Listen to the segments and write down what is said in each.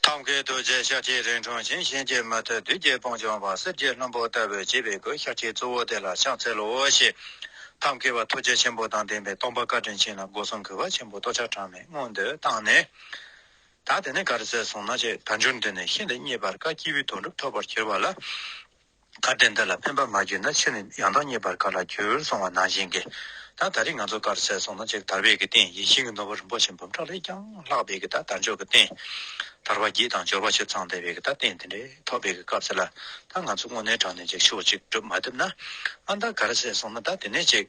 ཐབས་མཁས་རྡོ་རྗེ་ཤཱཀ་ཏི་རིང་དྲུང་བྱིན་གཤེན་གྱི་མུ་ཏིག་བདུད་རྒྱལ་སྤུངས་ལྗོངས་པ་གསེར་གྱི་ལྷུན་པོ་ལྟ་བུའི་བརྗིད་པའི་གོས་ཤཱཀ་ཏི་གཙོ་བོ་དེ་ལ་ཕྱག་འཚལ་ལོ་ཞེས། ཐབས་མཁས་པ་ཐུགས་རྗེ་ཆེན་པོ་དང་ལྡན་པའི་སྟོང་པ་བཀའ་དྲིན་ཆེན་ལ་སྒོ་གསུམ་གུས་པ་ཆེན་པོས་ལྟོ་འཕྱར་གྲངས་མེད་མངོན་འདོད་བཏང་ནས། ད་དེ་ནས་ག་རེ་བཙལ་སོང་ན་ཅེས་དལ་འབྱོར་འདི་ནས་ཤིན་ཏུ་རྙེད་པར་དཀའ་དཀྱིལ་བུའི་དོན་གྲུབ་ཐོབ་པར་གྱུར་པ་ལ། གར་སྟེགས་འདི་ལ་ཕན་པ་མ་བརྒྱུད་ན་ཕྱིར་ནི་ཡང་དག་རྙེད་པར་ག་ལ་འགྱུར་སོང་བ་ནང་བཞིན་གྱི། ད་ད་རེས་ང་ཚོ་གར་ཟེར་སོང་ན་ཅིག་དར་བས་ཀྱི་སྟེང་ཡིད་བཞིན་གྱི་ནོར་བུ་རིན་པོ་ཆེ་འབུམ་ཕྲག་ལས་ཀྱང་ལྷག་པས་ཀྱི་ད་དར་འཇོག་གི་སྟེང། དར་བ་བརྒྱད་དང་འབྱོར་བ་ཆེ་ཚང་བསྡད་པས་ཀྱི་ད་སྟེང་དེ་འདྲའི་ཐོག་པས་ཀྱི་སྐབས་དེ་ལ་ད་ང་ཚོ་དངོས་གནས་དྲང་གནས་ཅིག་ཤོག་ཅིག་སྒྲུབ་མ་ཐུབ་ན། ཨ་མདའ་གར་ཟེར་སོང་ན་ད་དེ་ནས་ཅིག།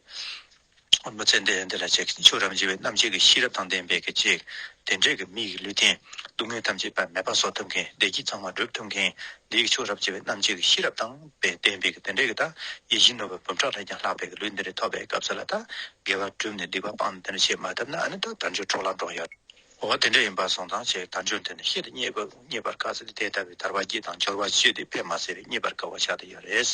ཨོ་མ་ཙན་ཏན་འདི་ལ་བྱེད་ཀྱི་ཆོས་རབ་འབྱེད་པའི་རྣམ་འབྱེད་ཀྱི་ཤེས་རབ་དང་ལྡན་པའི་ཀྱི་ཅིག། དེ་འབྲས་ཀྱི་མིག་གི་ལུས་རྟེན་སྡུག་བསྔལ་ཐམས་ཅད་པད་མའི་བ་སོགས་ཐུབ་མཁན་བདེ་སྐྱིད་གཙང་མ་བསྒྲུབ་ཐུབ་མཁན་འདི་ཡི་ཆོས་རབ་འབྱེད་པའི་རྣམ་འབྱེད་ཀྱི་ཤེས་རབ་དང་ལྡན་པའི་ཀྱི་དེ་འབྲས་ཀྱི་དག་ཡིད་བཞིན་ནོར་བུའི་འབུམ་ཕྲག་ལས་ཀྱང་ལྷག་པའི་ཀྱི་ལུས་འདི་རིགས་ཐོབ་པའི་སྐབས་སུ་ལ་དག་དགེ་བ་བསྒྲུབས་ནས་སྡིག་པ་སྤངས་ནས་དེ་འདྲ་བྱེད་མ་ཐུབ་ན་ཨ་ནི་དག་དགྲ་འཇོལ་གྲོགས་ལ་འགྲོགས་ཡོད། འོ་དེ་འདྲ་ཡིན་པར་སོང་ཙང་ཞེས་དང་ཆོས་འདི་ནི་ཤེས་དང་རྙེད་པའི་རྙེད་པར་དཀའ་ས་ལས་དེ་ལྟ་བུའི་ཐར་བ་བརྒྱད་དང་སྦྱོར་བ་བཞི་དེ་ཕལ་མ་ཟད་རེ་རྙེད་པར་དཀའ་བ་ཤ་སྟག་ཡོད་རེད།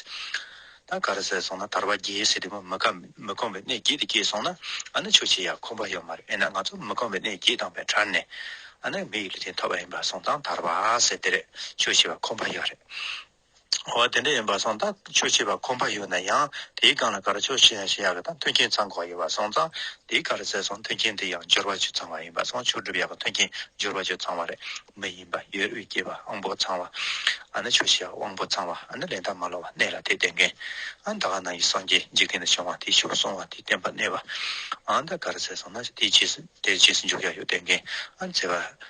ད་ག་རེ་ཟེར་སོང་ན་ཐར་བ་བརྒྱད་ཟེར་དེ་མི་མི་གོམས་པའི་གནས་བརྒྱད་དེ་སྐྱེས་སོང་ན་ཨ་ནི་ཆོས་ཆེ་ཡང་ཁོམ་པ་ཡོད་མ་རེད་ཨེ་ན་ང་ཚོ་མི་གོམས་པའི་གནས་བརྒྱད་དང་བས་ཁྲར་ནས་ཨ་ནི་མི་ཡི་ལུས་རྟེན་ཐོབ་པ་ཡིན་པར་སོང་ཙང་ཐར་བ་ཟེར་དེ་རེད་ཆོས་ཆེ་བ་ཁོམ་པ་ཡོད་རེད། འོ་དེ་འདྲ་ཡིན་པ་སོང་ཙང་ཆོས་བྱེད་པ་ཁོམ་པ་ཡོད་ན་ཡང་དེའི་སྒང་ལ་གར་ཆོས་བྱེད་ཡ་བྱེད་ཡག་གི་དང་མཐུན་རྐྱེན་ཚང་གོ་ཡོད་པ་སོང་ཙང་དེའི་གར་ཟེར་སོང་མཐུན་རྐྱེན་དེ་ཡང་འབྱོར་བ་ཆུ་ཚང་བ་ཡིན་པ་སོང་ཆོས་སྒྲུབ་ཡག་གི་མཐུན་རྐྱེན་འབྱོར་བ་ཆུ་ཚང་བ་རེད་མི་ཡིན་པ་ཡོད་དབུས་སྐྱེས་པ་དབང་པོ་ཚང་བ་ཨ་ནི་ཆོས་བྱེད་དབང་པོ་ཚང་བ་ཨ་ནི་ལས་མཐའ་མ་ལོག་བ་གནས་ལ་དེ་བསྟེན་མཁན་ཨ་ད་ག་ནང་གི་སངས་རྒྱས་འཇིག་རྟེན་དུ་བྱུང་བ་དེ་ཤུགས་སོང་བ་དེ་བསྟེན་པ་གནས་པ་ཨ་ད་གར་ཟེར་སོང་ན་དེའི་རྗེས་སུ་འཇུག་ཡ་ཡོད་བསྟེན་མཁན་ཨ་ནི་ཚེ་དབང།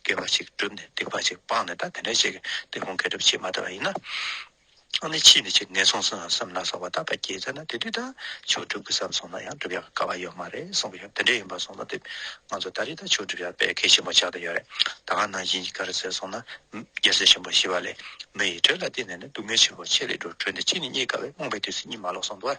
སྐྱེ་བ་ཞིག་བསྒྲུབས་ནས་སྡིག་པ་ཞིག་སྤངས་ནས་ད་དེ་འདྲ་ཞིག་གི་དེ་ཁོང་སྐད་གྲབས་བྱེད་མ་ཐུབ་པ་ཡིན་ན། ནི་ཕྱིས་ནས་ཅི་ནས་གསུངས་སམ་བསམ་ན་སོང་བ་ད་བར་གྱེས་ཚར་ན་དེ་དུས་ད་ཆོག་བསྒྲུབ་དགོས་བསམ་སོང་ན་ཡང་བསྒྲུབ་ཡག་ག་བ་ཡོད་མ་རེད་གསུངས་ཀྱི་དེ་འདྲ་ཡིན་པ་སོང་ན་དེ་ང་ཚོ་ད་རེས་ད་ཆོག་བསྒྲུབ་ཡག་དཔེ་ཁེ་ཆེན་པོ་ཆགས་ཀྱི་ཡོད་རེད་ད་ག་ནང་བཞིན་གྱི་གར་ཟེར་སོང་ན་རྒྱལ་སྲས་ཆེན་པོ་ཞི་བ་ལས་མི་ཡི་གྲོས་ལ་བརྟེན་ནས་ནི་སྡུག་བསྔལ་ཆེན་པོ་ཆེ་ལེགས་འགྲོ་གྲོལ་འདི་ཅི་ནས་རྙེད་དཀའ་བས་རྨོངས་པའི་དུས་སུ་གཉིད་མ་ལོག་སོང་དུས།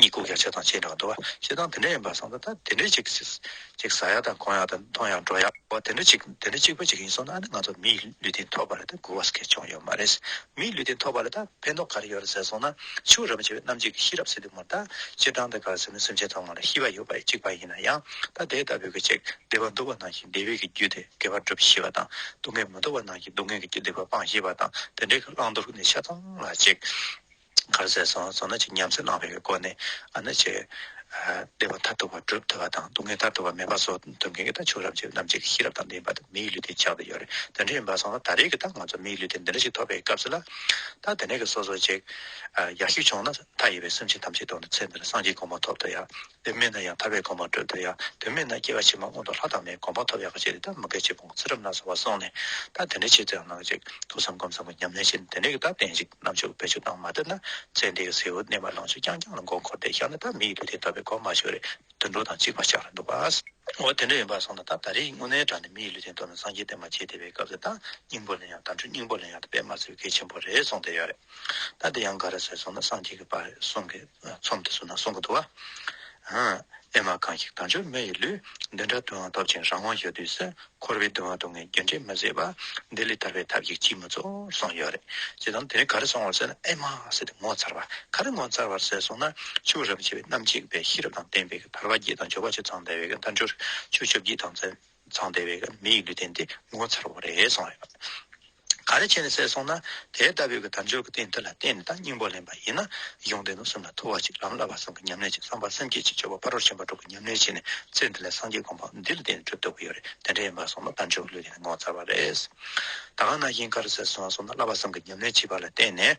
གཉིད་ཁུག་ཡ་བྱེད་དང་བྱེད་འབྲང་དུ་བ་བྱེད་དང་དེ་འདྲ་ཡིན་པར་བསམ་ན་ད་དེ་འདྲའི་ཅིག་ཅིག་ཟ་ཡ་དང་གོན་ཡ་དང་འཐུང་ཡ་འགྲོ་ཡ་བ་དེ་འདྲ་ཅིག་དེ་འདྲ་གཅིག་པ་ཅིག་ཡིན་སོང་ན་ཨ་ནི་ང་ཚོ་མིའི་ལུས་སྟེང་ཐོག་པ་ལ་ད་སྒུར་བ་སྐད་བྱུང་ཡོད་མ་རེད། མིའི་ལུས་སྟེང་ཐོག་པ་ལ་ད་ཕན་ཐོག་ག་རེ་ཡོད་རེད་ཟེར་སོང་ན་ཕྱུགས་རབས་བྱེད་པའི་རྣམ་འབྱེད་ཀྱི་ཤེས་རབ་ཟེར་དུས་མོར་ད་སྤྱིར་བཏང་ད་ག་ཟེར་ན་སེམས་ཅན་ཐོག་མ་ལ་ཤི་བ་ཡོད་པ་གཅིག་པ་ཡིན་ན་ཡང་ད་དེ་ལྟ་བུའི་གི་ཅིག་བདེ་བ་འདུག་པ་ནང་བཞིན་བདེ་བའི་གི་རྒྱུ་དེ་དགེ་བར་སྒྲུབ་ཤེས་པ་དང་སྡུག་བསྔལ་མི་འདུག་པ་ནང་བཞིན་སྡུག་བསྔལ་གྱི་རྒྱུ་བདེ་བར་སྤང་ཤེས་པ་དང་དེ་འདྲའི་གི་བླང་དོར་གྱི་ནི་ཆ་ཚང་ལ་ཅིག། གར་ཟས་སོགས་བཟོ་ན་ཅི་སྙམ་སེམས་བླང་བའི་སྒོ་ནས་ཨ་ནི་བྱས། བདེ་བ་མཐར་ཐུག་པར་སྒྲུབ་ཐུབ་པ་དང་སྡུག་བསྔལ་མཐར་ཐུག་པར་མེད་པ་སོགས་དོན་གང་གིས་ད་ཆུང་རབས་ཀྱི་རྣམ་འབྱེད་ཀྱི་ཤེས་རབ་དང་ལྡན་པ་དེ་མིའི་ལུས་དེ་ཆགས་ཀྱི་ཡོད་རེད་དོན་དྲན་ཡིན་པ་སོང་ལ་ད་རེས་ཀྱི་ད་ང་ཚོ་མིའི་ལུས་དེ་འདི་འདྲ་ཞིག་ཐོབ་པའི་སྐབས་སུ་ལ་ད་དེ་འདྲ་གི་སོ་སོ་ཅིག་ཡག་ཤོས་བྱུང་ན་མཐའ་ཡས་པའི་སེམས་ཅན་ཐམས་ཅད་དོན་དུ་ཚེ་འདིར་སངས་རྒྱས་གོང་མ་ཐོབ་ཐུབ་ཡག་དོན་མེད་ན་ཡང་ཐར་བའི་དགོངས་པ་འགྲོལ་འདོད་ཡ། དོན་མེད་ན་སྐྱེ་བ་ཕྱི་མ་སྔོན་དུ་ལྷ་དང་མིའི་དགོངས་པ་ཐོབ་ཡག་གི་ཆེད་དེ་ལྟར་མུ་གེ་བྱེད་པོ་ངོ་ཚ་རབ་གནག་ཟེར་བ་སོང་ནས་ད་དེ་འདྲའི་ཆེད་དུ་ཡང་གནང་ཅིག་ཐུགས་བསམ་སྒོམ་བསམ་གྱི་ཉམས་ལེན་བྱེད་དེ་འདྲའི་གི་ད་བསྟན་ཅིག་ནམ་ཕྱུག་བེད་སྤྱོད་བཏང་མ་ཐུབ་ན་ཚེ་འདི་གི་ཟེའུ་གནས་པ་ལང་ཚོ་རྐྱང་རྐྱང་ལ་མགོ་འཁོར་ཏེ་བཞག་ན་ད་མི་ཡི་ལུས་དེ་ད་བའི་གོ་མ་ཞུ་རེད་དུད་འགྲོ་དང་གཅིག་མ་ཆགས་རེད་འདུག་བ། འོ་དེ་འདྲ་ཡིན་པ་སོང་ན་ད་ད་རེས་དངོས་གནས་དྲང་ནས་མི་ཡི་ལུས་དེ་འདོར་ན་སངས་རྒྱས་བསྟན་པ་བྱེད་བདེ་བའི་སྐབས་སུ་ད་སྙིང་པོ་ལེན་ཡང་དམ་ཆོས་སྙིང་པོ་ལེན་ཡང་ད་པད་མ་ཚོའི་གལ་ཆེན་པོ་རེད་སོང་བསྡད་ཡོད་རེད། ད་དེ་ཡང་ག་རེ་ཟེར་སོང་ན་སངས་རྒྱས་ཀྱི་བར་གསུམ་གྱི་ཚོམས་དེ་སུ་ན་གསུང་གི་འདུག་བ། ཨེ་མ་གང་ཞིག་དང་ཆོས་མེ་ཡི་ལུས། འདི་འདྲ་དུའང་སྟོབས་ཆེན་རང་དབང་ཞུ་དུས་སུ། འཁོར་བའི་སྡུག་བསྔལ་སྡུག་བསྔལ་རྒྱུ་འབྲས་མི་བཟད་པ། འདི་ལས་ཐར་བའི་ཐབས་ཤིག་ཅིས་མི་རྫོགས་གསུངས་ཡོད་རེད། ཅེས་དང་དེ་རིང་ག་རེ་གསུང་བར་ཟེར་ན་ཨེ་མ་ཟེར་ཏེ་ངོ་མཚར་བ། ག་རེ་ངོ་མཚར་བར་ཟེར་སོང་ན། ཆོས་རབ་འབྱེད་པའི་རྣམ་འབྱེད་པའི་ཤེས་རབ་དང་ལྡན་པའི་གི་དར་བ་བརྒྱད་དང་འབྱོར་བ་བཅུ་ཚང་བདེ་བའི་གི་མཐའ་འགྲོར་ཆོས་བཅོ་བརྒྱད་དང་རྩལ། མཚང་དེ་བས་ཀྱང་མི་ཡི་ལུས་རྟེན་འདི་ངོ་མཚར་བ་རེད་གསུངས་ཡོད། ག་རེ་བྱས་ནས་བསད་སོང་ན་དེ་ལྟ་བུའི་གི་དམ་ཆོས་ཀྱི་རྟེན་འདི་ལ་བརྟེན་ནས་དང་སྙིང་པོ་ལེན་པ་ཡིན་ན་གཞུང་འདི་ནོར་གསུམ་ལ་ཐུག་བ་ཅིག་ལམ་བསླབ་པ་གསུམ་གྱི་ཉམས་ལེན་ཅིག་བསམ་པ་སེམས་བསྐྱེད་ཅིག་སྤྱོད་པ་ཕ་རོལ་ཕྱིན་པ་དྲུག་གི་ཉམས་ལེན་བྱས་ནས་ཚེ་འདི་ལ་སངས་རྒྱས་དགོངས་པ་འདི་ལ་བརྟེན་ནས་གྲུབ་ཐུབ་ཀྱི་ཡོད་རེད་དེ་འདྲ་ཡིན་པ་སོང་ན་དམ་ཆོས་ཀྱི་ལུས་རྟེན་འདི་ངོ་མཚར་བ་རེད། ད་གང་ན་གཞན་ག་རེ་བསད་སོང་སོང་ན་བསླབ་པ་གསུམ་གྱི་ཉམས་ལེན་བྱས་པ་ལ་བརྟེན་ནས།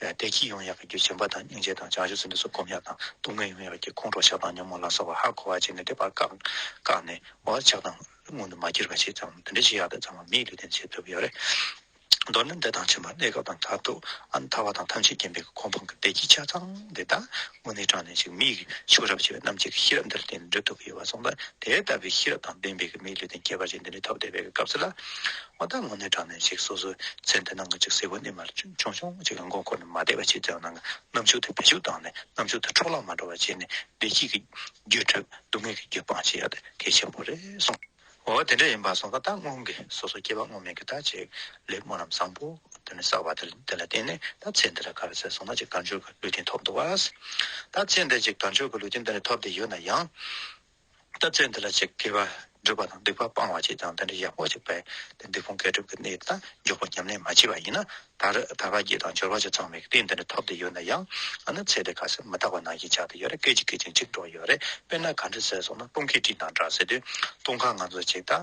བདེ་སྐྱིད་ཡོང་ཡག་གི་རྒྱུ་སྦྱིན་པ་དང་སྙིང་རྗེ་དང་བྱང་ཆུབ་སེམས་དཔའི་སོགས་སྒོམ་ཡག་དང་སྡུག་བསྔལ་ཡོང་ཡག་གི་ཁོང་ཁྲོ་ཆགས་སྡང་ཉོན་མོངས་ལ་སོགས་པ་ཧ་གོ་བར་བྱས་ནས་འདོད་པ་བཀག་བཀག་ནས་འོ་ཆགས་སྡང་སྔོན་དུ་མ་གྱུར་པ་བྱས་ཙང་དེ་འདྲའི་ཤི་ཡག་དེ་ཚང་མ་མིའི་ལུས་རྟེན་བྱེད་ཐུབ་ཡོད་རེད། མདོར་ན་འདི་དང་ཕྱི་མ་གནས་སྐབས་དང་མཐར་ཐུག་ཨ་མཐའ་བ་དང་ཐམས་ཅད་མཁྱེན་པའི་གོ་འཕང་གི་བདེ་སྐྱིད་ཆ་ཚང་འདི་དག་དངོས་གནས་དྲངས་ནས་ཅིག་མིའི་ཕྱུགས་རབས་བྱེད་པའི་རྣམ་འབྱེད་ཀྱི་ཤེས་རབ་འདིར་བརྟེན་འགྲུབ་ཐུབ་ཀྱི་ཡོད་པ་སོང་ཙང་དེ་ལྟ་བུའི་ཤེས་རབ་དང་ལྡན་པའི་མིའི་ལུས་རྟེན་ཁྱད་པར་ཅན་འདི་འདྲའི་ཐོབ་བསྡད་པའི་སྐབས་སུ་ལ་ང་ད་དངོས་གནས་དྲང་གནས་ཅིག་སོ་སོའི་མཚན་དེ་ནང་གི་ཅིག་སེ་གོ་གནས་མར་ཆུང་ཆུང་ཅིག་ལ་མགོ་འཁོར་ནས་མ་བསྡད་པ་ཅིག་དེའང་ནང་གི་རྣམ་འཕྱུག་དེ་བེད་སྤྱོད་བཏང་ནས་རྣམ་འཕྱུག་དེ་འཕྲོ་བརླག་མ་འགྲོ་བ་བྱས་ནས་བདེ་སྐྱིད་ཀྱི་རྒྱུད་ཁྲོད་སྡུག་བསྔལ་གྱི་རྒྱུད་སྤང་བྱེད་ཡ་དེ་གལ་ཆེན་པོ་རེད་གསུངས། འོ་དེ་འདྲ་ཡིན་པ་སོང་ད་ད་སྔོན་གྱི་སོ་སོ་སྐྱེ་བ་སྔོན་མའི་གི་ད་ཅིག་ལེབ་མོ་རྣམས་བཟང་པོ་དེ་ནས་བསགས་པ་དེ་དེ་ལ་བརྟེན་ནས་ད་ཚེ་འདི་ལ་ག་རེ་ཟེར་སོང་ན་ཅིག་དལ་འབྱོར་གྱི་ལུས་རྟེན་ཐོབ་འདུག་བ། ད་ཚེ་འདི་ཅིག་དལ་འབྱོར་གྱི་ལུས་རྟེན་འདི་ནས་ཐོབ་བསྡད་ཡོད་ན་ཡང། ལྟ་ཚུལ་འདི་ལ་ཆེས་སྐལ་བ་སྒྲུབ་པ་དང་སྡིག་པ་སྤང་བ་བཅས་ཀྱང་དེ་འདྲའི་ཡག་པོ་ཞིག་པས་དེ་སྡིག་སྤོང་སྐལ་སྒྲུབ་ཀྱི་གནས་དང་འཇོག་པ་ཉམས་ལེན་མ་བྱས་པ་ཡིན་ན། ད་རེས་ད་བར་རྒྱས་དང་འབྱོར་བ་ཆ་ཚང་བའི་གཏན་འདི་འདྲ་ཐོབ་བསྡད་ཡོད་ན་ཡང། ཨ་ནི་ཚེ་འདི་ག་སེ་མི་ཐག་པ་ནང་བཞིན་ཆགས་བསྡད་ཡོད་རེད་སྐད་ཅིག་སྐད་ཅིག་འཇིག་འགྲོ་ཡོད་རེད་དཔེར་ན་ག་འདྲི་ཟེར་སོང་ན་སྤུན་མཁས་བཀྲིས་དང་འདྲ་ཟེར་དུས་སྟོང་ཁ་ང་ཚོ་ཆེ་ད།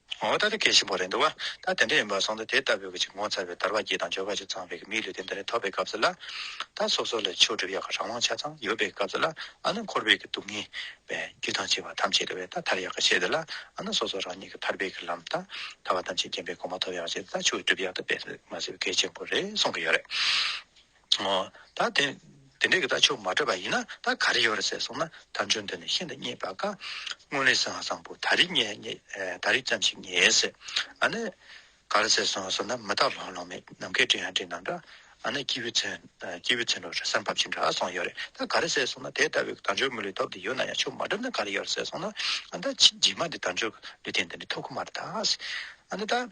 ངོ་བོ་ད་ལྟ་གལ་ཆེན་པོ་རེད་འདུག་ད་དེ་འདྲ་ཡིན་པར་སོང་ད་དེ་ལྟ་བུའི་གཅིག་ངོ་མཚར་བའི་དར་བ་སྐྱེས་དང་འབྱོར་བ་ཅིག་ཚང་བའི་གི་མིའི་ལུས་དེ་འདི་ནས་ཐོབ་པའི་སྐབས་སུ་ལ། ད་སོ་སོ་ལ་ཆོས་སྒྲུབ་ཡ་ག་རང་དབང་ཆ་ཚང་ཡོད་པའི་སྐབས་སུ་ལ་ཨ་ན་འཁོར་བའི་གི་སྡུག་བསྔལ་བའི་རྒྱུ་དང་བྱེད་པ་ཐམས་ཅད་དེ་བས་ད་ཐར་ཡ་ག་བྱས་ཏེ་ལ་ཨ་ན་སོ་སོ་རང་ཉིད་ཀྱི་ཐར་པའི་གི་ལམ་དང་ཐར་བ་ཐམས་ཅད་མཁྱེན་པའི་གོང་མ་ཐོབ་ཡ་ག་བྱས་ཏེ་ད་ཆོས་སྒྲུབ་ཡ་ད་པས་མ་ཟེར་བའི་གལ་ཆེན་པོ་རེད་གསུང་གི་ཡོད་རེད། ད་དེ་འདྲས་ཀྱི་ད་ཆོས་མ་འདྲ་བ་ཡིན་ན་ད་ག་རེ་ཡོད་རེད་ཟེར་སོང་ན་ད་འཇོན་དོན་ནི་ཤིན་ཏུ་རྙེད་པ་དཀའ། དངོས་གནས་བཟང་བཟང་པོ་ད་རེ་རྙེད་ད་རེ་ཙམ་ཞིག་རྙེད་ཡས་ཟེར། ཨ་ནི། ག་རེ་ཟེར་སོང་ཟེར་ན་མི་དག་ལྷོང་ལྷོང་མེད་ནམ་མཁའི་སྤྲིན་ཡང་སྤྲིན་དང་འདྲ། ཨ་ནི་སྐྱིད་པོའི་ཚན་སྐྱིད་པོའི་ཚན་རོ་རེ་སར་འབབ་ཅིང་འདྲ་སོང་ཡོད་རེད་ད་ག་རེ་ཟེར་སོང་ན་དེ་ལྟ་བུའི་ད་འཇོན་མི་ལུས་སྟོབས་འདི་ཡོད་ན་ཡང་ཆོས་མ་འགྲུབ་ན་ག་རེ་ཡོད་རེད་ཟེར་སོང་ན་ཨ་ནི་ད་ཕྱི་རྗེས་མ་འདི་ད་འཇོན་ལུས་རྟེན་འདི་འདྲ་ཐོབ་ཁོ་མ་རེད་ད། ཨ་ནི་ད།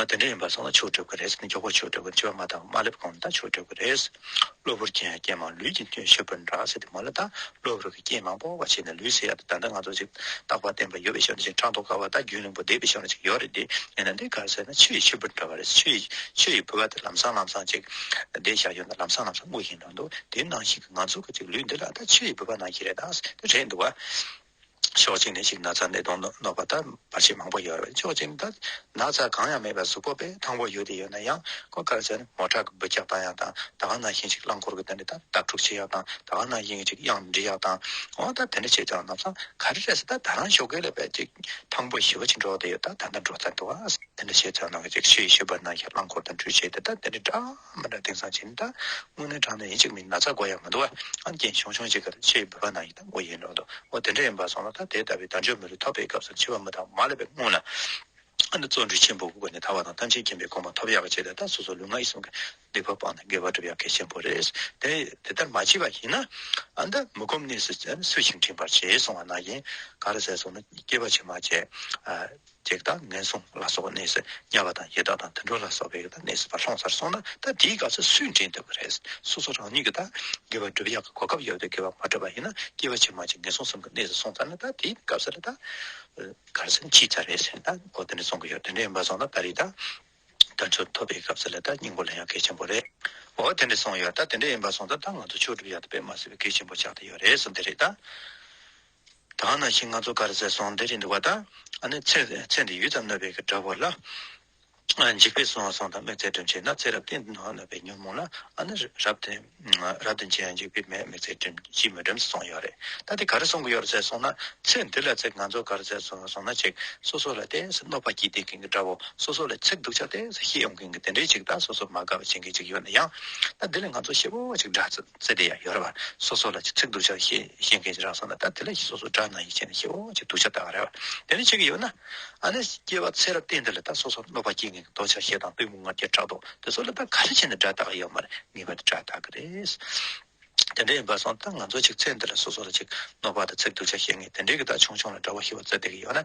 ང་དེ་འདྲ་ཡིན་པར་བསམ་ན་ཆོས་སྒྲུབ་ཀྱི་རེད་ཟེར་ནས་མགྱོགས་པོར་ཆོས་སྒྲུབ་ཀྱི་འཆི་བ་མ་བཏང་བར་མ་སླེབས་གོང་ནས་ད་ཆོས་སྒྲུབ་ཀྱི་རེད། གློ་བུར་སྐྱེས་ཡང་སྐྱེས་མང་ལུས་ཀྱི་སྐྱོན་ཤོར་པར་འདྲ་ཟེར་ཏེ་མ་སླེབས་དང་གློ་བུར་གྱི་སྐྱེས་མང་པོ་བ་བྱས་ནས་ལུས་ཟེར་ཡག་དེ་ད་ལྟ་ང་ཚོ་ཅིག་རྟག་པར་བརྟན་པར་ཡོད་པའི་ཞབས་འདྲེན་ཅིག་ཕྲག་དོག་དཀར་བ་དང་རྒྱུན་རིང་པོ་བསྡད་པའི་ཞབས་འདྲེན་ཅིག་ཡོད་རེད་དེ་ཡིན་ན་འདི་གར་ཟེར་ན་ཆུ་ཡི་ཆུ་བུར་འདྲ་བ་རེད་ཟེར་ཆུ་ཡི་ཆུ་ཡི་བུར་བ་དེ་ལམ་སང་ལམ་སང་ཅིག་བསྡད་ཞག་ཡོད་ན་ལམ་སང་ལམ་སང་སྔུག་བཞིན་འགྲོ་འདུག་དེ་ནང་བཞིན་གྱི་ང་ཚོ་གི་ཅིག་ལུས་འདི་ལ་ད་ཆུ་ཡི་བུར་བ་ནང་བཞིན་རེད་ད་ཟེར་ཏེ་རེད་འདུག་བ། ཕྱོགས་གཅིག་ནས་ཤིག་ན་ཚ་ནད་གདོན་གནོད་པ་ལྟ་བ་ཆེས་མང་པོ་ཡོད་རེད་ཕྱོགས་གཅིག་ནས་ད་ནག་ཚ་གང་ཡང་མེད་པའི་གཟུགས་པོ་དཔེ་ཐང་པོ་ཡོད་དེ་ཡོད་ན་ཡང་ཁོ་གར་ཚད་ནི་མོ་ཁྲག་གི་འབུ་བཀྱག་བཏང་ཡག་དང་ད་གང་ན་ཤིང་གཅིག་རླངས་འཁོར་གྱི་སྟེང་ནས་ད་དར་འཁྲུག་བྱེད་ཡག་དང་ད་གང་ན་དབྱིངས་གཅིག་དབྱངས་འབྲི་ཡག་དང་འོ་ད་དེ་འདྲ་བྱས་ཀྱང་ནག་ཚ་ག་རེ་རེད་ཟེར་ད་ད་རང་ཤོ་གའི་ལས་པའི་ཅིག་ཐང་པོ་ཞི་བ་ཆེ་འགྲོ་དེ་ཡོད་ད་ད་ལྟ་འགྲོ་ཚར་འདུག་ཨ། དེ་འདྲ་བྱས་ཙང་ནག་ཅིག་ཤོས་ཡི་ཤོ་བར་ན་ཡི་རླངས་འཁོར་དང་འཁྲུག་བྱེད་དེ་ད་དེ་འདྲ་འདྲ་མི་འདྲ་དེང་སང་བྱས་ནས་ད་དངོས་གནས་དྲང་ནས་ཡིན་ཅིག་མིན་ན་ཚ་འགོ་ཡག་མི་འདུག་ཨ། ཨ་རྒྱན་ཞོང་ཞོང་ཅིག་གི་ཤོ་ཡི་བུ་བར་ན་ཡི། དང་པོ་ཡིན་ནོ། དེ་འདྲ་ཡིན་པར་སོང་ན་ད་དེ་ལྟ་བུའི་དལ་འབྱོར་མི་རུ་ཐོབ་པའི་སྐབས་སུ་འཆི་བ་མི་དང་མ་ལ་བའི་སྔོན་ལ། ཨ་ནུ་བརྩོན་འགྲུས་ཆེན་པོའི་སྒོ་ནས་ཐར་བ་དང་ཐམས་ཅད་མཁྱེན་པའི་གོ་མ་ཐོབ་ཡ་བ་བྱས་ཏེ་ད་སོ་སོ་ལུས་ངག་ཡིད་གསུམ་གྱི་སྡིག་པ་སྤངས་ནས་དགེ་བ་བསྒྲུབ་ཡ་གལ་ཆེན་པོ་རེད། དེ་ལྟར་མ་བྱས་པ་ཡིན་ན། ཨ་འདི་མི་སྒོམ་གནས་སུ་སུ་ཞིག་འཁྲིད་པར་བྱས་སོང་བ་ན་ཡིན། ག་རེ་ཟེར་སོང་ན་སྐྱེས་པ་ཕྱི་མ་བྱས། བགེགས་དང་ངན་སོང་ལ་སོགས་པ་གནས་སུ་དམྱལ་བ་དང་ཡི་དྭགས་དང་དུད་འགྲོ་ལ་སོགས་པའི་བགེགས་དང་གནས་སུ་བར་སོང་སར་སོང་ན་ད་དེའི་སྐབས་སུ་སུས་འདྲེན་ཐུབ་པ་རེད། སོ་སོ་རང་ཉིད་ཀྱིས་ད་གེ་བ་བསྒྲུབ་ཡག་གི་གོ་སྐབས་ཡོད་དུས་གེ་བ་མ་བསྒྲུབ་པ་ཡིན་ན་སྐྱེ་བ་ཕྱི་མ་ཅིག་ངན་སོང་གསུམ་གྱི་གནས་སུ་སོང་ཚར་ན་ད་དེའི་སྐབས་སུ་རེད། གར་སོང་ཅིག་ཅར་རེད་ཟེར་ན་ད་གོ་དོན་སོང་གི་ཡོད་དོན་འདྲེན་མ་སོང་ན་ད་རེད། དུད་འགྲོ་ཐོབ་པའི་སྐབས་སུ་ལས་ད་སྙིང་པོ་ལེན་ཡག་གལ་ཆེན་པོ་རེད། འོ་དོན་འདྲེན་སོང་ཡོད་ད་དོན་འདྲེན་མ་སོང་ད་ད་ང་ཚོ་ཆོས་བསྒྲུབ་ཡག་ཐུབ་པའི་མ་ཟེར་བའི་གལ་ཆེན་པོ་ཆགས་ཏེ་ཡོད་རེད་སོ་འདི་རེད། དང་ན་ཤིང་ལྔ་ཚོ་ཀར་ཟས་སོང་འདི་རེད་འདུག་བ་དང་ནི་ཚེ་འདི་ཡུད་ཙམ་གནོད་པའི་གི་དགྲ་བོ་ལ་འཇིགས་པས་སོང་སོང་དང་མི་ཚེ་སྒྲིམ་བྱེད་ན་ཚེ་རབས་དེ་འདི་གནོད་པའི་ཉོན་མོངས་ལ་ནི་རབ་དེ་རབ་དེ་འཇིགས་འཇིགས་པས་མི་ཚེ་སྒྲིམ་གྱིས་མི་སྒྲིམས་སུ་སོང་ཡོད་རེད་ད་དེ་ག་རེ་སོང་གི་ཡོད་རེད་ཟས་སོང་ན་ཚེ་འདི་ལ་ཚེ་ང་ཚོ་ཀར་ཟས་སོང་སོང་ན་ཅིག་སོ་སོ་ལ་དེ་གནོད་པ་གྱིས་དེ་གིན་གི་དགྲ་བོ་སོ་སོ་ལ་ཚེ་སྡུག་ཆགས་དེ་ཤི་ཡོང་གིན་གི་དེ་འདྲའི་ཅིག་ད་སོ་སོ་མ་དགའ་བ་བྱེད་གིན་ཅིག་ཡོད་ན་ཡང་ད་འདི་ལ་ང་ཚོ་ཤི་བོ་བ་ཅིག་འདྲ་ཚུལ། ཚེ་འདི་ཡང་ཡོད་རེད་བ། སོ་སོ་ལ་ཅིག་ཚིག་གདུལ་བྱ་ཞེས་བཤད་མཁན་གྱི་རང་སངས་ལ་ད་དེ་ལ་ཞིག་སོ་སོ་སྒྲ་ནང་ཡིག་ཅན་ལ་ཞེས་འོ་ཅིག་གདུལ་བྱ་བཏགས་རེད་བ། དེ་ནི་ཆོས་ཀྱི་ཡོད་ན། ཨ་ནི་སྐྱེ་བ་ཚེ་རབས་གཏན་འདི་ལ་ད་སོ་སོར་གནོད་པ་སྐྱེལ་མཁན་གྱི་གདུལ་བྱ་ཞེ་སྡང་པུས་མོ་ལྔ་བརྒྱ་ཕྲག་དོག་དེ་ཚོ་ལ་ད་ག་རེ་བྱས་ནས་སྒྲ་བཏགས་ཡོད་མ་རེད་ངེས་པར་དུ་སྒྲ་བཏགས་ཀྱི་རེད། དེ་འདྲ་ཡིན་པ་སོང་ད་ང་ཚོ་ཅིག་ཚེ་འདི་ལ་སོ་སོ་ལ་ཅིག་གནོད་པ་ད་ཚིག་གདུལ་བྱ་ཞེས་ངས་དེ་འདྲའི་གི་ད་ཆུང་ཆུང་ལ་འདྲ་བོ་ཞིག་བ་ཚེ་འདི་གི་ཡོད་ན་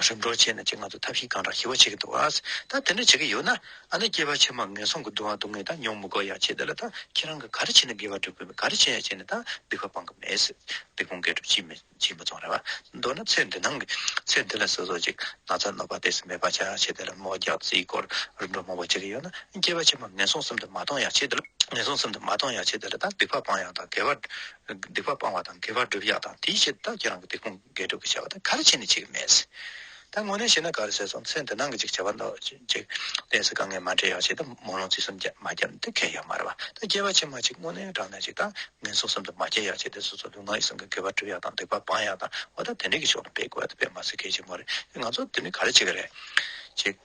རིམ་གྲོ་བྱས་ནས་ཅི་ང་ཚོ་ཐབས་ཤེས་གང་དྲག་ཞི་བ་བྱེད་ཀྱི་འདུག་ཨ། ད་དེ་འདྲ་བྱེད་ཀྱི་ཡོད་ན་ཨ་ནི་སྐྱེས་པ་ཕྱི་མ་ངན་སོང་གི་སྡུག་བསྔལ་སྡུག་བསྔལ་ད་མྱོང་མི་དགོས་ཡ་བྱས་དེ་ལ་ད་ཁྱེད་རང་གི་ག་རེ་བྱས་ནས་དགེ་བ་སྒྲུབ་དགོས་མིན་ག་རེ་བྱས་ཡ་བྱས་ནས་ད་སྡིག་པ་སྤང་གི་མེད། སྡིག་སྤོང་དགེ་སྒྲུབ་ཅིས་མི་ཅིས་མི་ཚོང་རེད་བ། མདོར་ན་ཚེ་འདི་སྣང་གི་ཚེ་འདི་ལ་སོ་སོ་ཅིག་ན་ཚ་གནོད་པ་བདེ་སི་མེད་པ་བྱ་ཡ་བྱས་དེ་ལ་མོ་རྒྱག་རྩིས་སྐོར་རིམ་གྲོ་མང་པོ་བྱེད་ཀྱི་ཡོད་ན་སྐྱེས་པ་ཕྱི་མ་ངན་སོང་གསུམ་དུ་མ་གཏོང་ཡ་བྱས་དེ་ལ་ངན་སོང་གསུམ་དུ་མ་གཏོང་ཡ་བྱས་དེ་ལ་ད་སྡིག་པ་སྤང་ཡ་དང་དགེ་བ་སྡིག་པ་སྤང་བ་དང་དགེ་བ་སྒྲུབ་ཡ་དང་དེའི་ཕྱིར་ད་ཁྱེད་རང་གི་སྡིག་སྤོང། དགེ་སྒྲུབ་ཀྱི་བྱ་བ་དང་གར་བྱེད་ནི་གཅིག་མེད། ད་དངོས་གནས་བྱས་ན་གར་བྱས་སོང་ཚེ་འདི་སྣང་གི་ཅིག་བྱ་བ་འདོགས་ཅིག། གནས་སུ་དཀའ་ངལ་མ་འདྲེས་ཡག་བྱས་ཏེ་མོ་ལོང་ཚིག་གསུམ་རྒྱ་མ་རྒྱབ་འདི་གལ་ཡག་མ་རེད་བ། ད་སྐྱེ་བ་ཕྱི་མ་ཅིག་དངོས་གནས་དྲང་གནས་ཅིག་དང་ངན་སོང་གསུམ་དུ་མ་སྐྱེ་ཡག་བྱས་ཏེ་སོ་སོ་ལུས་ངག་ཡིད་གསུམ་གྱི་དགེ་བ་བསྒྲུབ་ཡག་དང་སྡིག་པ་སྤང་ཡག་དང་བ་ད་དེ་འདྲའི་གི་ཕྱོགས་ལ་འབད་དགོས་བ་དེ་འབད་མ་ཚུལ་གལ་ཆེན་མོ་རེད་ཅིག་ང་ཚོ་འདི་ནི་གར་བྱེད་ཀྱི་རེད་ཅིག།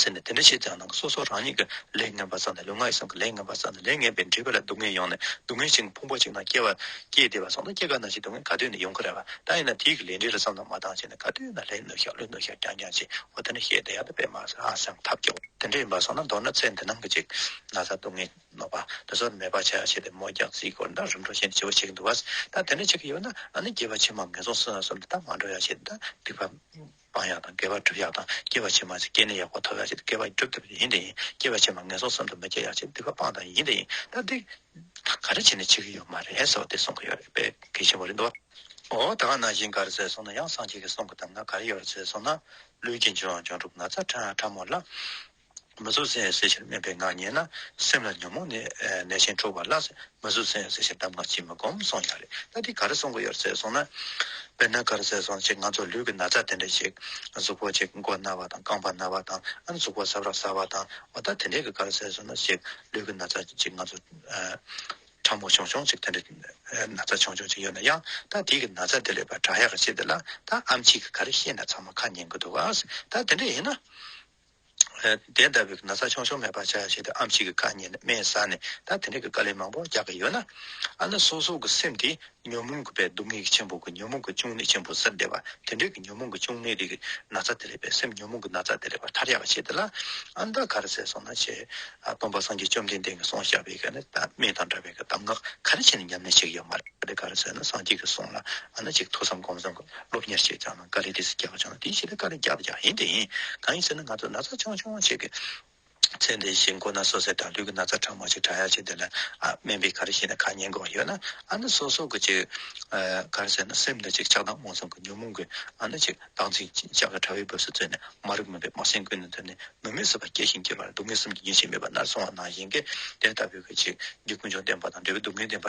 ཟེར་ནས་དེ་འདྲ་བྱེད་ཀྱང་ནང་གི་སོ་སོ་རང་ཉིད་ཀྱི་ལས་ངན་པ་བསགས་ནས་ལུས་ངག་ཡིད་གསུམ་གྱི་ལས་ངན་པ་བསགས་ནས་ལས་ངན་པའི་འདྲིས་པ་ལས་སྡུག་བསྔལ་ཡོང་ནས་སྡུག་བསྔལ་ཞིང་ཕུང་པོ་ཅིག་ན་སྐྱེ་བ་སྐྱེས་བདེ་བ་སོང་ན་སྐྱེ་ག་ན་ཅིག་སྡུག་བསྔལ་ག་དུས་ནས་ཡོང་གི་རེད་བ་ད་ཡིན་ན་དེའི་གི་ལས་འབྲས་ལ་བསམ་ན་མ་ཐང་ཆད་ནས་ག་དུས་ན་ལས་ནུ་ཤག་ལུས་ནུ་ཤག་རྐྱང་རྐྱང་བྱེད་འོ་དེ་འདྲ་བཤད་བསྡད་ཡག་ཏུ་དཔེ་མ་ཟ་ཨ་སེམས་ཐབས་སྐྱོ་བ་དེ་འདྲ་ཡིན་པ་སོང་ན་མདོར་ན་ཚེ་འདི་སྣང་གི་ཅིག་ན་ཟ་སྡུག་བསྔལ་ནོར་བ་དེ་ཚོར་མེད་པ་བྱ་བྱེད་དེ་མོ་རྒྱག་རྩིས་སྐོར་འདྲ་རིམ་འགྲོ་བཞིན་ཅི་བ་བྱེད་ཀྱི་འདུག་བ་ད་དེ་འདྲ་བྱེད་ཀྱི་ཡོད་ན་ཨ་ནི་སྐྱེ་བ་ཕྱི་མ་ངན་སོང་སོང་སོང་འདི་ལྟར་མ་འགྲོ་ཡ་བྱེད་འདི་སྡིག་པ་སྤང་ཡག་དང་བརྒལ་བ་སྒྲུབ་ཡག་དང་སྐྱེ་བ་ཕྱི་མར་ཅི་སྐྱེས་ནས་ཡག་པོ་ཐོབ་ཡག་ཅེས་བརྒལ་བ་སྒྲུབ་ཐུབ་ཡིན་དེ་ཡིན་སྐྱེ་བ་ཕྱི་མར་ངན་སོང་གསུམ་དུ་མི་སྐྱེ་ཡག་ཅེས་སྡིག་པ་སྤང་དང་ཡིན་དེ་ཡིན་ད་འདི་དང་ག་རེ་བྱས་ནས་འཆི་གི་ཡོད་མ་རེད་ཟེར་བ་དེ་གསུང་གི་ཡོད་རེད་པས་གལ་ཆེན་པོ་རེད་འདུག་ཨོ་ད་ག་ན་གཞི་འགའ་རེ་ཟེར་སོང་ན་ཡང་སངས་རྒྱས་ཀྱི་གསུང་གི་གདམས་ངག་ག་རེ་ཡོད་རེད་ཟེར་སོང་ན་ལུས་ཀྱི་འབྱུང་བ་འབྱུང་གྲུབ་ན་ཚ་ཕྲ་ཕྲ་མོ་ལ་མི་གཟུགས་ཟིན་ཟེར་ཕྱིར་སྨད་པའི་ངག་ཉན་ན་སེམས་ལ་ཉོན་མོངས་ནད་ཆེན་འཕྲོག་པ་ལ་མི་གཟུགས་ཟིན་ཟེར་ཕྱིར་གདམས་ངག་ཅིས་མི་སྒོམ་གསུངས་ཡག་རེད་ད་དེ་ག་རེ་གསུངས་དགོས་ཡོད་རེད་གསུངས་ན། དཔེར་ན་ག་རེ་ཟེར་སོང་ཅིག་ང་ཚོ་ལུས་ཀྱི་ན་ཚ་དེ་འདྲ་ཞིག་གཟུགས་པོ་ཅིག་མགོ་ན་བ་དང་རྐང་པ་ན་བ་དང་ཨ་ནི་གཟུགས་པོ་སྲབ་ར་ཟ་བ་དང་བ་ད་དེ་འདྲའི་ག་རེ་ཟེར་སོང་ན་ཞིག་ལུས་ཀྱི་ན་ཚ་ཅིག་ང་ཚོ་ཕྲ་མོ་ཆུང་ཆུང་ཅིག་དེ་འདྲ་ན་ཚ་ཆུང་ཆུང་ཅིག་ཡོད་ན་ཡང་ད་དེ་གི་ན་ཚ་དེ་ལས་པ་དྲག་ཡག་གི་ཆེད་དེ་ལ་ད་ཨམ་ཆིག་གི་ག་རེ་བཤད་ན་ཚང་མ་ཁ་ཉན་གི་འདུག་ཨ་ད་དེ་འདྲ་ཡིན་ན། དེ་ལྟ་བུའི་ན་ཚ་ཆུང་ཆུང་མེད་པར་བྱ་ཞེས་དེ་ཨམ་གཅིག་གིས་བཀའ་ཉན་ནས་སྨྲས་ས་ནས་ད་དེ་འདྲ་གི་བཀའ་ལས་མང་པོ་རྒྱག་གི་ཡོད་ན། ཨ་ན་སོ་སོ་གི་སེམས་དེ་ཉོན་མོངས་གི་པའི་སྡུག་བསྔལ་གྱི་ཆེན་པོ་གི་ཉོན་མོངས་གི་ཅུང་ནད་ཆེན་པོ་ཟེར་བསྡད་པ་དེ་འདྲ་གི་ཉོན་མོངས་གི་ཅུང་ནད་རིགས་ཀྱི་ན་ཚ་དེ་ལས་པའི་སེམས་ཉོན་མོངས་གི་ན་ཚ་དེ་ལས་པར་ཐར་ཡག་བྱེད་དེ་ལ་ཨ་ད་ག་རེ་ཟེར་སོང་ན་བྱས། སྟོང་པ་སངས་རྒྱས་བཅོམ་ལྡན་འདས་ཀྱི་གསུང་བཤད་པའི་ག་ནི་ད་མེ་དང་འདྲ་བའི་གི་གདམས་ངག་ག་རེ་བྱས་ནས་ཉམས་ལེན་བྱེད་ཀྱི་ཡོད་མ་རེད་དེ་ག་རེ་ཟེར་ན་སངས་རྒྱས་ཀྱི་གསུང་ལ་ཨ་ན་ཅིག་ཐུགས་བསམ་སྒོམ་བསམ་གྱིས་སློབ་གཉེར་བྱས་ཀྱང། ཀ་རེ་དེ་སེ་རྒྱག་པ་ཆུང་བ་དེའི་ཕྱི་རེ་ཀ་རེ་རྒྱག་པ་ཀྱང་ཡིན་ཏེ། གང་ཡིན་ཟེར་ན་ང་ཚོ་ན་ཚ་ཆུང་ཆུང་ཞིག་གི་ཚེ་འདི་ཞིག་འགོ་ན་སོ་སའི་དགྲ་འདུལ་གྱི་ན་ཚ་གྲང་མོ་ཞིག་དྲག་ཡ་ཞིག་འདི་ལ་ཨ་སྨན་པས་ག་རེ་བཤད་ན་ཁ་ཉན་དགོས་པ་ཡོད་ན་ཨ་ན་སོ་སོ་གི་ཅིག་ག་རེ་ཟེར་ན་སེམས་ན་ཅིག་ཆགས་སྡང་མངོན་སུམ་གྱི་ཉོན་མོངས་གིས་ཨ་ན་ཅིག་སྡང་ཚིག་ཅིག་ཅག་གི་དྲ་བའི་སྦུབས་སུ་བཙོས་ནས་མ་རིག་མུན་པའི་སྨག་ཟིང་ཀུན་ནས་འཐུལ་ནས་མི་མོས་བཟོད་པ་སྐྱེ་ཞིང་སྐྱེ་བར་སྡུག་བསྔལ་གསུམ་གྱི་ཉེས་བྱས་མེད་པར་ནར་སོང་བ་ནང་བཞིན་གྱི་དེ་ལྟ་བུའི་གཅིག་འདི་ཀུན་འབྱུང་བདེན་པ་དང་འབྲས་བུ་སྡུག་བསྔལ་བདེན་པ་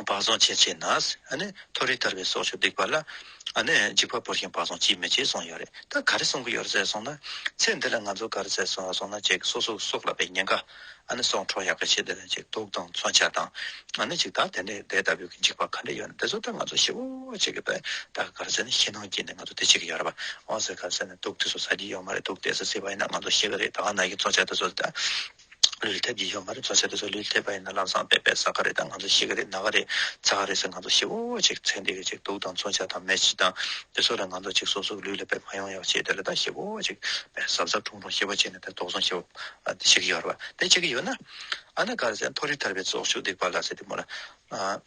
བག་བཟང་ཆེ་བྱས་ན་མཐོ་རིས་ཐར་པའི་སྲོག་ཆགས་སྡིག་པ་ལ་འཇིགས་པ་བོར་ཞིང་བག་བཟང་ཅིས་མི་བྱེད་གསུངས་ཡོད་རེད་ད་ག་རེ་གསུང་གི་ཡོད་ཟེར་སོང་ན་ཚེ་འདི་ལ་ང་ཚོ་ག་རེ་ཟེར་སོང་སོང་ན་ཅིག་སོ་སོའི་སྲོག་ལ་བའི་ཉེན་ཁ་སྲོག་འཕྲོག་ཡག་གི་ཆེད་དུ་ཅིག་དུག་དང་མཚོན་ཆ་དང་ཅིག་ད་དེ་འདྲའི་དེ་ལྟ་བུའི་གི་འཇིགས་པ་ག་འདྲ་ཡོད་ན་དེ་ཚོ་ད་ང་ཚོ་ཤི་བོ་ཅིག་གི་བའི་ད་ག་རེ་ཟེར་ན་ཤི་སྣང་སྐྱེས་ནས་ང་ཚོ་དེ་བྱེད་གི་ཡོད་རེད་བ་འོ་ཟེར་ག་རེ་ཟེར་ན་དུག་དེ་ཚོ་ཟ་གི་ཡོད་མ་རེད་དུག་དེ་ཚོ་བཟས་པ་ཡིན་ན་ང་ཚོ་ཤི་གི་རེད་ད་ག་ནག་གི་མཚོན་ཆ་དེ་ཚོ་ད། ལུས་ལ་ཐེབས་ཀྱི་ཡོད་མ་རེད་བཟོ་བྱ་དེ་ཚོ་ལུས་ལ་ཐེབས་པ་ཡིན་ན་ལམ་སང་བས་པས་ཟ་ག་རེད་དང་ང་ཚོ་ཤི་ག་རེད་ན་ག་རེད་ཚ་ག་རེད་ཟེར་ང་ཚོ་ཤི་བོ་བོ་ཅིག་ཚེ་འདི་ག་ཅིག་འདུག་དང་མཚོན་ཆ་དང་མེ་ཆི་དང་དེ་ཚོ་ལས་ང་ཚོ་ཅིག་སོ་སོ་གི་ལུས་ལ་བས་མ་ཡོང་ཡག་བྱས་དེ་ལ་ད་ཤི་བོ་བོ་ཅིག་བས་ཟབ་ཟབ་དྲུང་དྲུང་ཤི་བ་བྱས་ནས་དེ་དོགས་ཟོན་བྱེད་པ་ཤི་གི་ཡོད་རེད་བ་དེ་བྱེད་ཀྱི་ཡོད་ན་ཨ་ན་ག་རེ་ཟེར་མཐོ་རིས་ཐར་པའི་ཚོགས་ཞུགས་སྡིག་པ་ལ་ཟེར་དེ་མོ་ལ་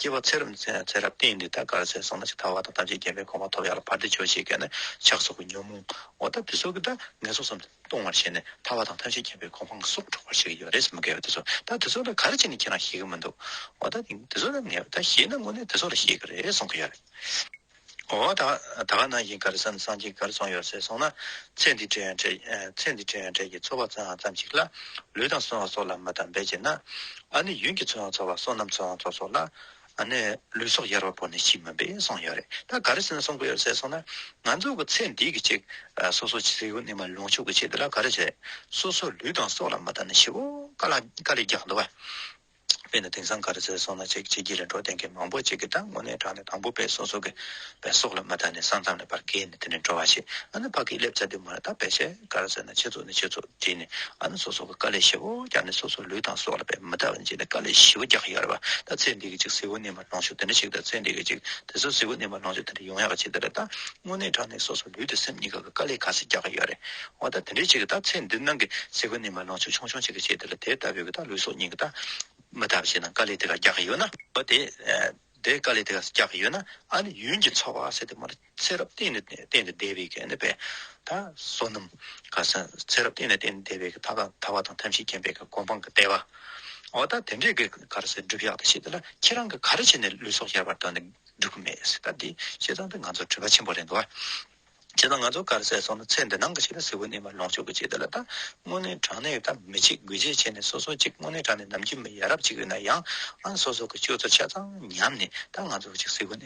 སྐྱེ་བ་ཚེ་རབས་ནས་ཚེ་རབས་སྟེང་འདི་ལྟར་དགར་ཟས་ཟོས་ན་ཇི་ལྟ་བ་དང་ཐམས་ཅད་སྐྱེ་བའི་གོམས་པ་ཐོབ་ཡག་ལ་བར་དེ་ཆོས་ཤེས་མཁན་ནི་ཆགས་སོགས་ཀྱི་ཉོན་མོངས་འོ་ད་དེ་སོགས་ཀྱི་སྒྲ་ངན་སོགས་སམ་སྟོང་བར་བྱས་ནས་ཐར་བ་དང་ཐམས་ཅད་སྐྱེ་བའི་གོམས་པ་ང་སོགས་འཕྲོག་པར་བྱེད་ཀྱི་ཡོད་རེད་ཟེར་མི་དགའ་བས་དེ་སོགས་ད་དེ་སོགས་ལ་ག་རེ་བྱས་ནས་ཁྱེད་རང་ཞེད་ཀྱི་མི་འདུག་འོ་ད་དེ་སོགས་ལ་ངས་ད་བཤད་ན་དངོས་གནས་དེ་སོགས་ལ་ཞེད་ཀྱི་རེད་གསུང་གི་ཡོད་རེད། ཨོ་ད་ད་ག་ནང་བཞིན་གར་སོང་སངས་རྒྱས་གར་སོང་ཡོད་ཟེར་སོང་ན་ཚེ་འདི་བྲེལ་ཡང་བྲེལ་ཚེ་འདི་བྲེལ་ཡང་བྲེལ་གྱི་འཚོ་བ་ཚོལ་ཡང་ཙམ་ཞིག་ལ་ལུས་དང་གསོན་བ་སྲོག་ལ་མི་དང་འབད་བྱེད་ན་ཨ་ནི་ཡུན་གྱི་འཚོ་ཡང་འཚོ་བ་བསོད་ནམས་འཚོ་ཡང་འཚོ་སོགས་ལ་ཨ་ནི་ལུས་སྲོག་ཡར་བ་བོར་ནས་ཤི་མིན་པས་སོང་ཡོད་རེད་ད་གར་སོན་སོང་གི་ཡོད་ཟེར་སོང་ན་ང་ཚོ་གི་ཚེ་འདི་གི་ཅིག་སོ་སོ་ཆེ་ཡུལ་ནས་མ་ལོངས་ཕྱོགས་ཀྱི་ཆེད་དེ་ལ་ག་རེ་བྱེད་སོ་སོ་ལུས་དང་སྲོག་ལ་མི་དང་ནི་ཤི་བོ་ག་ལ་ག་ལས་རྒྱག་འདོད་བ། དཔེར་ན་དེང་སང་ག་རེ་ཟེར་སོང་ན་ཅིག་བྱེད་ཀྱི་རེད་འགྲོ་དེང་གི་མང་པོ་ཅིག་གི་ད་ངོ་ནས་དྲངས་ནས་དང་པོ་དཔེ་སོ་སོ་གི་བའི་སོག་ལ་མ་བལྟ་ནས་སང་ཙམ་ལས་པར་བཀལ་ནས་དེ་ནས་འགྲོ་བ་ཞིག་ཨ་ན་ཕ་གིས་སླེབས་ཚར་དུས་མ་རེད་ད་བེད་ཤེས་ག་རེ་ཟེར་ན་ཆེ་ཚོགས་ནས་ཆེ་ཚོགས་བྲིས་ནས་ཨ་ན་སོ་སོ་གི་དཀའ་ལས་ཞེ་བོ་རྒྱག་ནས་སོ་སོ་ལུས་དང་སོག་ལ་བེད་མི་བལྟ་བ་ནས་བྱས་ནས་དཀའ་ལས་ཞེ་བོ་རྒྱག་ཡོད་རེད་བ་ད་ཚེ་འདི་གི་ཅིག་གཟི་བོ་ནས་མ། ལང་ཕྱུགས་དེ་འདྲ་ཞིག་དང་ཚེ་འདི་ག་ཅིག་དེ་ཚོ་གཟིགས་པོ་ནས་མ་ལང་ཕྱུགས་དེ་འདྲ་ཡོང་ཡག་ག་ཅིག་དེ་འདྲ་དང་དངོས་གནས་དྲང་གནས་སོ་སོ་ལུས་དང་སེམས་གཉིས་ཀ་གི་དཀའ་ལས་ག་ཟིག་རྒྱག་གི་ཡོད་རེད་འོ་ད་དེ་འདྲ་ཞིག་གི་དང་ཚེ་འདི་ནང་གི་གཟིགས་པོ་ནས་མ་ལང་ཕྱུགས་ཆུང་ཆུང་ཅིག་ག་ཅིག་དེ་ལ་དེ་ལྟ་བུའི་གི་དང་ལུས་སྲོག་གཉིས་གི་དང། མི་ལྟ་བུ་ཞིག་དང་དཀའ་ལས་དེ་ག་རྒྱག་གི་ཡོད་ན། འོ་དེ་དེ་དཀའ་ལས་དེ་ག་ཟིག་རྒྱག་གི་ཡོད་ན་ཨ་ནི་ཡུན་གྱི་འཚོ་བ་ཟེར་དེ་མ་ཚེ་རབས་གཏན་ནས་བདེ་བའི་དཔལ། བསོད་ནམས་གང་ཟག་ཚེ་རབས་གཏན་ནས་བདེ་བའི་དཔལ། ཐར་པ་དང་ཐམས་ཅད་མཁྱེན་པའི་གོ་འཕང་གི་ལྟེ་བ། འོ་ད་དེ་འདྲའི་གི་གར་སའི་སྒྲུབ་གཞག་དེ་བྱེད་དེ་ལ་ཁྱེད་རང་གི་ག་རེ་བྱས་ནས་ལུས་སྲོག་ཤར་བར་དོར་ནས་སྒྲུབ་གི་མེད་སྲིད་ད་དེ་བྱས་ཙང་དེ་ང་ཚོར་འཁྲུལ་པ་ཆེན་པོ་རེད་འདུག་བ། བྱས་ཙང་ང་ཚོ་གར་སའི་སོང་ན་ཚེ་འདི་སྣང་གི་ཆེད་ལ་གཟི་བོ་ནས་མར་ལོངས་སྤྱོད་གི་བྱེད་དེ་ལ་ད་དངོས་གནས་དྲང་གནས་ད་མི་བྱེད་དགོས་རྗེས་བྱས་ནས་སོ་སོ་གཅིག་དངོས་གནས་དྲང་གནས་ནམ་རྒྱུས་མི་ཡ་རབས་གཅིག་ཡོད་ན་ཡང་ཨང་སོ་སོ་གི་སྤྱོད་ཚུལ་ཆ་ཚང་ཉམས་ནས་ད་ང་ཚོ་གཅིག་གཟི་བོ་ནས།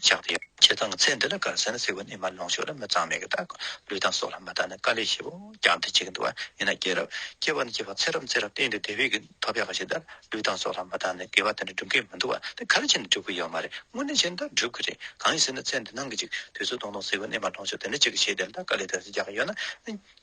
ལྗགས་ཀྱི་ཁྱད་གདངས་ཚད་འདི་ལ་དགར་ཟེར་ན་སྲིད་པ་ནི་མ་ལོངས་ཤོག་ལ་མི་གཙང་མེད་ཀྱི་རྟགས། ལུས་དང་སྲོག་ལ་མ་བརྟགས་ན་དཀའ་ལས་ཆེ། ཀྱང་དེ་གཅིག་གི་འདུ་བ་ཡིན་ན་སྐྱེས་རབས་སྐྱེ་བ་ནི་སྐྱེས་པ་ཚེ་རབས་ཚེ་རབས་སྟེང་དུ་དེ་བས་ཀྱི་ཐོབ་པའི་ཁ་ཞེ་ལྟར་ལུས་དང་སྲོག་ལ་མ་བརྟགས་ན་དགེ་བ་དེ་འདྲ་སྒྲུབ་མཁན་མི་འདུག་བ་དེ་ག་རེ་བྱས་ནས་སྒྲུབ་ཀྱི་ཡོད་མ་རེད་དངོས་གནས་བྱས་ན་ད་སྒྲུབ་ཀྱི་རེད་གང་ཡིན་ཟེར་ན་ཚད་འདི་སྣང་གི་ཅིག་དུས་ཚོད་སྟོང་སྟོང་སྲིད་པ་ནི་མ་ལོངས་ཤོག་དེ་འདྲ་གཅིག་གི་ཆེད་དེ་ལ་དག་དཀའ་ལས་དེ་ཚོ་རྒྱག་གི་ཡོད་ན།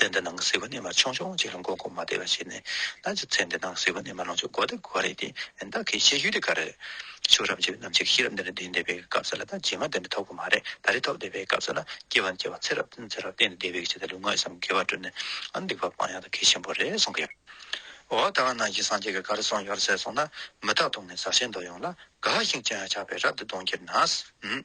ཚེ་འདི་ནང་སྲིད་པ་ནི་མ་ཆུང་ཆུང་གཅིག་ལ་མགོ་སྐོར་མ་བདེ་བ་ཞིག་ནི་ན་ཅི་ཚེ་འདི་ནང་སྲིད་པ་ནི་མ་ལོངས་ཆུ་མགོ་བདེ་གོ་རེད་དེ་བདག་གིས་བཤད་རྒྱུ་དེ་ག་རེད། ཆུ་རབ་འཇིབ་ནམ་ཅིག་ཤི་རབ་འདི་ནས་འདི་འདས་པའི་སྐབས་སུ་ལ་ད་རྗེས་མ་འདི་འདྲ་ཐོབ་གི་མ་རེད་ད་རེ་ཐོབ་འདས་པའི་སྐབས་སུ་ལ་སྐྱེ་བ་ནི་སྐྱེ་བ་ཚེ་རབ་ཚེ་རབ་བརྟན་ནས་འདས་པའི་ཕྱི་ད་ལུས་ངག་ཡིད་གསུམ་དགེ་བར་བགྲོད་ནས་ཨ་འདུག་པ་སྤང་ཡག་ད་གལ་ཆེན་པོ་རེད་གསུང་གི་ཡོད། འོ་ད་ག་ནང་གི་སངས་རྒྱས་ཀྱི་གར་སོང་ཡོད་ཟེར་སོང་ན་མི་རྟག་དོང་ནས་ཟ་ཤེས་མདོག་ཡོང་ལ་དགའ་ཞིང་སྤྱན་ཡང་ཆགས་པའི་རབ་ཏུ་གདོང་འཁྱེར་ནའང།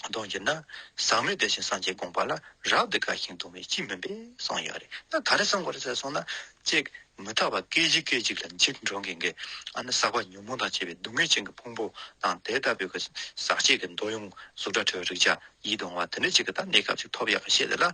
གདོན་གྱི་ན་བཟང་མོས་དེ་བཞིན་སངས་རྒྱས་དགོངས་པ་ལ་རབ་ཏུ་དགའ་ཞིང་གདུང་བས་ཅི་སྨོན་པས་སངས་ཡོད་རེ་ད་ག་རེ་གསང་གོ་རེ་ཟེར་སོང་ན། ཅེས་མི་ཐར་བ་སྐད་ཅིག་སྐད་ཅིག་ལ་འཇིགས་འགྲོ་འགེང་གེ་ཨ་ནི་ཟག་པ་ཉོན་མོངས་དང་བཅས་པའི་སྡུག་བསྔལ་ཅན་གྱི་ཕུང་པོ་དང་དེ་ལྟ་བུའི་གི་ཟག་བཅས་ཀྱི་མདོ་ཡོངས་གཟུགས་སྒྲ་དྲོད་རེག་བྱ་ཡིད་གདུང་བ་དེ་འདྲ་ཅིག་གི་ད་གནས་སྐབས་ཅིག་ཐོབ་ཡག་གི་ཤེས་ལེ་ལ།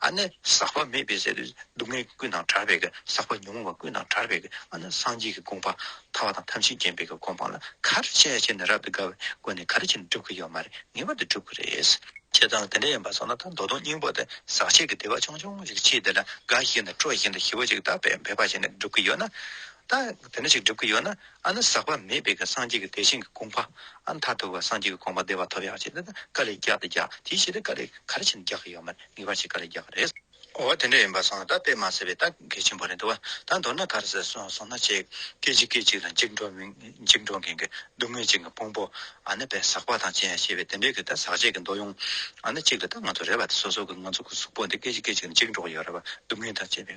ཨ་ནི་ཟག་པ་མེད་པའི་ཟད་པའི་སྡུག་བསྔལ་གྱི་ཀུན་དང་བྲལ་བས་ཟག་པ་ཉོན་མོངས་པ་ཀུན་དང་བྲལ་བས་ཨ་ནི་སངས་རྒྱས་ཀྱི་དགོངས་པ་ཐར་བ་དང་ཐམས་ཅད་མཁྱེན་པས་དགོངས་པ་ལ་གར་བྱས་བྱས་ནས་རབ་ཏུ་དགའ་བའི་སྒོ་ནས་གར་བྱས་ནས་སྒྲུབ་ཀྱི་ཡོད་མ་རེད་ངེས་པར་དུ་སྒྲུབ་ཀྱི་རེད། ཁྱེད་ཚང་དེ་འདྲ་ཡིན་པ་སོང་ན་ད་མདོ་དོང་སྙིང་པོ་དེ་ཟག་བྱེད་ཀྱི་བདེ་བ་ཆུང་ཆུང་ཞིག་མཆིས་དེ་ལ་དགའ་བཞིན་དུ་སྤྲོ་བཞིན་དུ་ཞི་བ་ཅིག་ད་བས་འབད་པ་བྱས་ནས་སྒྲུབ་ཀྱི་ཡོད་ན་ད་དེ་འདྲ་ཞིག་སྒྲུབ་ཀྱི་ཡོད་ན་ཨ་ནི་ཟག་པ་མེད་པའི་གི་སངས་རྒྱས་ཀྱི་དེ་བཞིན་གྱི་དགོངས་པ། ཨ་ནི་མཐར་ཐུག་གི་སངས་རྒྱས་ཀྱི་དགོངས་པ་བདེ་བ་ཐོབ་ཡག་བྱེད་དེ་ནི་ཀ་ལས་རྒྱག་དེ་རྒྱག་དེའི་ཕྱིར་དེ་ཀ་ལས་ག་རེ་བྱེད་ནི་རྒྱག་གི་ཡོད་མེད་ངེས་པར་བྱེད་ཀ་ལས་རྒྱག་གི་རེད། འོ་དེ་འདྲ་ཡིན་པ་སོང་ད་དཔེ་མ་ཟེར་བས་ད་གལ་ཆེན་པོ་རེད་འདུག་བ་ད་མདོར་ན་ག་རེ་ཟེར་སོང་ན་ཆེ་གེ་ཆི་གེ་ཅིག་ལ་འཇིགས་འགྲོ་འཇིགས་འགྲོ་མཁན་གྱི་སྡུག་བསྔལ་ཅན་གྱི་ཕུང་པོ་ཨ་ནི་བས་ཟག་པ་དང་བཅས་ཞེས་པའི་དེ་འདྲའི་གི་ད་ཟག་བཅས་ཀྱི་འདོད་ཡོང་ཨ་ནི་གཅིག་ལ་ད་ང་ཚོ་རེ་བ་དེ་སོ་སོ་གི་ང་ཚོ་གི་གཟུགས་པོ་འདི་སྐད་ཅིག་སྐད་ཅིག་ལ་འཇིགས་འགྲོ་གི་ཡོད་རེ་བ་སྡུག་བསྔལ་དང་བཅས་པའི།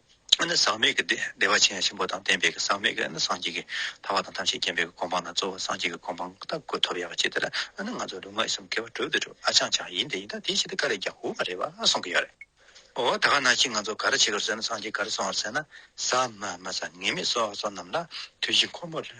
ཟག་མེད་ཀྱི་བདེ་བ་ཆེན་ཆེན་པོ་དང་ལྡན་པའི་ཟག་མེད་ཀྱི་སངས་རྒྱས་ཀྱི་ཐར་བ་དང་ཐམས་ཅད་མཁྱེན་པའི་གོ་འཕང་དང་གཙོ་བོ་སངས་རྒྱས་ཀྱི་གོ་འཕང་ལྟ་དགོས་ཐོབ་ཡ་བ་ཅི་དེ་ལ་ནི་ང་ཚོ་ལུས་ངག་ཡིད་གསུམ་སྐལ་བ་དྲུག་འདི་དྲུག་ཨ་ཅག་ཅག་ཡིན་དེ་ཡིན་ད་དེ་ཞིག་དེ་ག་ལ་རྒྱག་དགོས་མ་རེད་བ་གསུང་གི་ཡོད་རེད། འོ་ད་ག་ནང་བཞིན་ང་ཚོ་ག་ར་བྱེད་དགོས་རེད་ཟེར་ན་སངས་རྒྱས་ག་ར་གསུང་བ་རེད་ཟེར་ན་ཟ་མ་མ་ཟ་ངེས་མེད་སོགས་སོགས་རྣམས་ལ་དུས་བཞི་འཁོར་མོ་ལོས།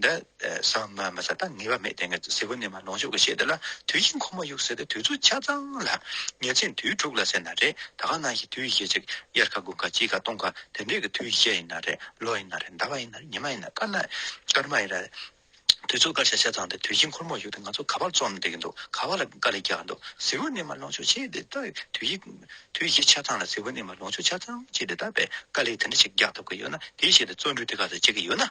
འདི་ཟ་མ་མི་ཟ་ད་ངེས་པ་མེད་དེ་གཟི་བོ་ནི་མ་ལོངས་སྤྱོད་ཀྱི་ཆེད་དུ་ལ་དུས་ཤིང་ཁོ་མོ་གཡུག་ཟེར་ཏེ་དུས་ཚོད་ཆ་ཚང་ལ་ཉེར་འཚེ་དུས་དྲུག་ལ་ཟེར་ན་རེད་ད་ག་ནང་གི་དུས་བཞི་ཅིག་དབྱར་ཁ་དགུན་ཁ་དཔྱིད་ཁ་སྟོང་ཁ་དེ་འདྲས་ཀྱི་དུས་བཞི་ཡིན་ན་རེད་ལོ་ཡིན་ན་རེད་ཟླ་བ་ཡིན་ན་རེད་ཉི་མ་ཡིན་ན་སྐར་མ་སྐར་མ་ཡིན་རེད་དུས་ཚོད་སྐར་ཆ་ཆ་ཚང་དེ་དུས་ཤིང་ཁོར་མོ་གཡུག་ཏེ་ང་ཚོ་ག་པར་རྩོམ་བསྡད་ཀྱི་འདུག་ག་བ་ལ་དཀའ་ལས་རྒྱག་གི་འདུག་གཟི་བོ་ནི་མ་ལོངས་སྤྱོད་ཆེད་དེ་ལྟ་བུའི་དུས་བཞི་ཆ་ཚང་ལ་གཟི་བོ་ནི་མ་ལོངས་སྤྱོད་ཆ་ཚང་ཆེད་དེ་ལྟ་བའི་དཀའ་ལས་དེ་འདྲ་ཞིག་རྒྱག་ཐུབ་ཀྱི་ཡོད་ན་དེའི་ཆེད་དུ་བརྩོན་འགྲུས་དེ་ག་ཚོད་བྱེད་ཀྱི་ཡོད་ན།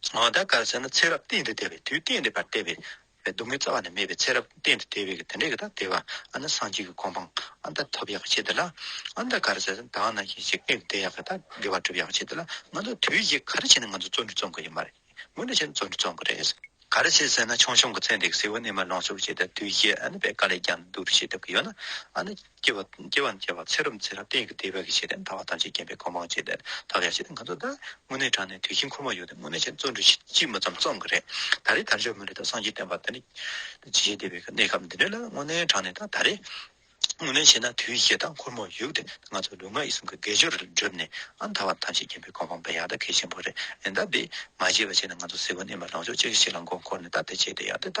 ད་ག་ཟེར་ན་ཚེ་རབས་གཏན་དུ་བདེ་བའི་དུས་གཏན་བདེ་བར་བལྟས་པས་སྡུག་བསྔལ་རྩ་བ་ནས་མེད་པའི་ཚེ་རབས་གཏན་དུ་བདེ་བས་དེ་འདྲའི་གི་དག་བདེ་བ་ཨ་ན་སངས་རྒྱས་ཀྱི་གོ་འཕང་ཨ་ད་ཐོབ་ཡག་བྱེད་དེ་ལ། ད་ག་ར་ཟེར་ན་དག་ན་ཞིག་ཞིག་གཏན་དུ་བདེ་ཡག་གི་དག་བདེ་བ་གྲུབ་ཡག་བྱེད་དེ་ལ་ང་ཚོ་དུས་བཞི་ག་ར་བྱས་ན་ང་ཚོ་བརྩོན་འགྲུས་བརྩོན་གི་ཡོད་མ་རེད་ངོ་ན་བྱས་ན་བརྩོན་འགྲུས་བརྩོན་གི་རེད། ག་ར་བྱས་ཟེར་ན་ཆུང་ཆུང་གི་ཚེ་འདི་གི་སྲིད་བོ་ནས་མ་ལོངས་སུ་བྱས་ད་དུས་བཞི་ཨ་ན་བས་ག་ལས་ཀྱང་སྡུག་རུ་བྱེད་ཐུབ་གི་ཡོད་ན་ཨ་ན། སྐྱེ་བ་སྐྱེ་བ་སྐྱེ་བ་ཚེ་རབས་ཚེ་རབས་གཏན་གྱི་བདེ་བའི་ཞེས་ཟླ་བ་ཐམས་ཅད་བརྒྱན་པའི་གོ་འཕང་བྱེད་དེ་དག་ཀྱང་ཞེས་ང་ཚོ་ད་དངོས་གནས་དྲང་ནས་དུས་ཆེན་འཁོར་མ་ཡོད་དུས་དངོས་གནས་ཆེན་བཙོ་འགྲུས་དཔྱིད་རྨོ་ཙམ་བཙོང་གི་རེད་ད་རེས་དར་ལྕོག་མོ་རེ་དང་སངས་རྒྱས་བསྟན་པ་དེ་ནི་ཇི་བཞིན་བདེ་བའི་གནས་སྐབས་འདི་འདྲ་ལ་དངོས་གནས་དྲང་ནས་ད་ད་རེས་དངོས་གནས་བྱས་ན་དུས་ཆེན་དང་འཁོར་མོ་ཡོད་དུས་ང་ཚོ་ལུས་ངག་ཡིད་གསུམ་གྱི་དགེ་སྦྱོར་རེ་བསྒྲུབས་ནས་ཨང་དར་བ་ཐམས་ཅད་བརྒྱན་པའི་གོ་འཕང་འབེལ་ཡག་ད་གལ་ཆེན་པོ་རེད་ད་འདི་མ་བྱས་པ་བྱས་ན་ང་ཚོ་སེ་གོལ་གནས་མ་ལངས་ཕྱོགས་གཅིག་གི་ཤེད་ལ་མགོ་འཁོར་ནས་ད་དེ་བྱས་དེ་ཡག་དེ་ད་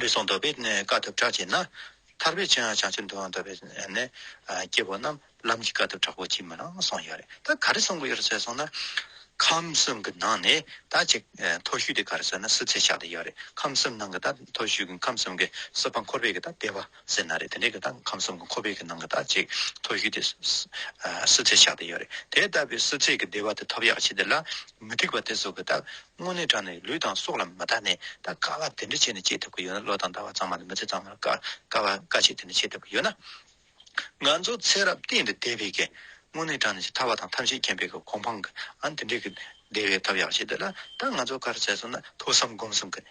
ལུས་ཟུངས་འདོར་བའི་དཀའ་ཐུབ་དྲག་བྱེད་ན། ཐར་པའི་ཆོས་ཡང་བྱང་ཆུབ་འདོད་ཡོན་འདོར་བའི་སྐྱེ་བོ་རྣམས་ལམ་གྱི་དཀའ་ཐུབ་དྲག་པོ་ཅིས་མི་ལང་གསུངས་ཡོད་རེད་ད་ག་རེ་གསུངས་གི་ཡོད་རེད་ཟེར་སོང་ན། ཁམས་གསུམ་གྱི་ནང་ནས་ད་ཅིག་མཐོ་བཞུགས་དེ་ག་རེ་ཟེར་ན་སྲིད་ཚེ་ཞག་དེ་ཡོད་རེད་ཁམས་གསུམ་ནང་གི་ད་མཐོ་བཞུགས་ཀྱི་ཁམས་གསུམ་གྱི་གསོལ་བ་འཁོར་བའི་གི་ད་བདེ་བ། སེར་སྣ་རེད་དེ་འདྲས་ཀྱི་དང་ཁམས་གསུམ་གྱི་ཁོ་བོས་ཀྱི་ནང་གི་དག་ཅིག་ཐོ་གཞུས་ཏེ། སུ་ཚེགས་ཆགས་ཏེ་ཡོད་རེད་དེ་ལྟ་བུའི་སུ་ཚེགས་ཀྱི་བདེ་བ་དེ་ཐོབ་ཡག་བྱེད་དེ་ལ། མི་སྡིག་པ་དེ་ཚོ་གི་དག་དངོས་གནས་དྲང་ནས་ལུས་དང་སྲོག་ལ་མི་ལྟ་ནས་ད་དཀའ་བ་དེ་འདྲས་བྱེད་ནས་སྐྱེ་ཐུབ་ཀྱི་ཡོད་ན་བློ་དང་ལྟ་བ་གཙང་མ་ལ་མི་ཚེ་གཙང་མ་ལ་དཀའ་དཀའ་བ་དཀའ་ཆེ་དེ་འདྲས་བྱེད་ཐུབ་ཀྱི་ཡོད་ན། ང་ཚོ་ཚེ་རབས་གཏན་དུ་བདེ་བའི་གི་དངོས་གནས་དྲང་ནས་ཆེས་ཐར་བ་དང་ཐམས་ཅད་མཁྱེན་པའི་གི་གོ་འཕང་གི་ཨང་དེ་འདྲས་ཀྱི་བདེ་བའི་ཐབས་ཡག་བྱེད་དེ་ལ། ད་ང་ཚོ་གར་བྱས་སོང་ན་ཐོས་བསམ་སྒོམ་གསུམ་གི།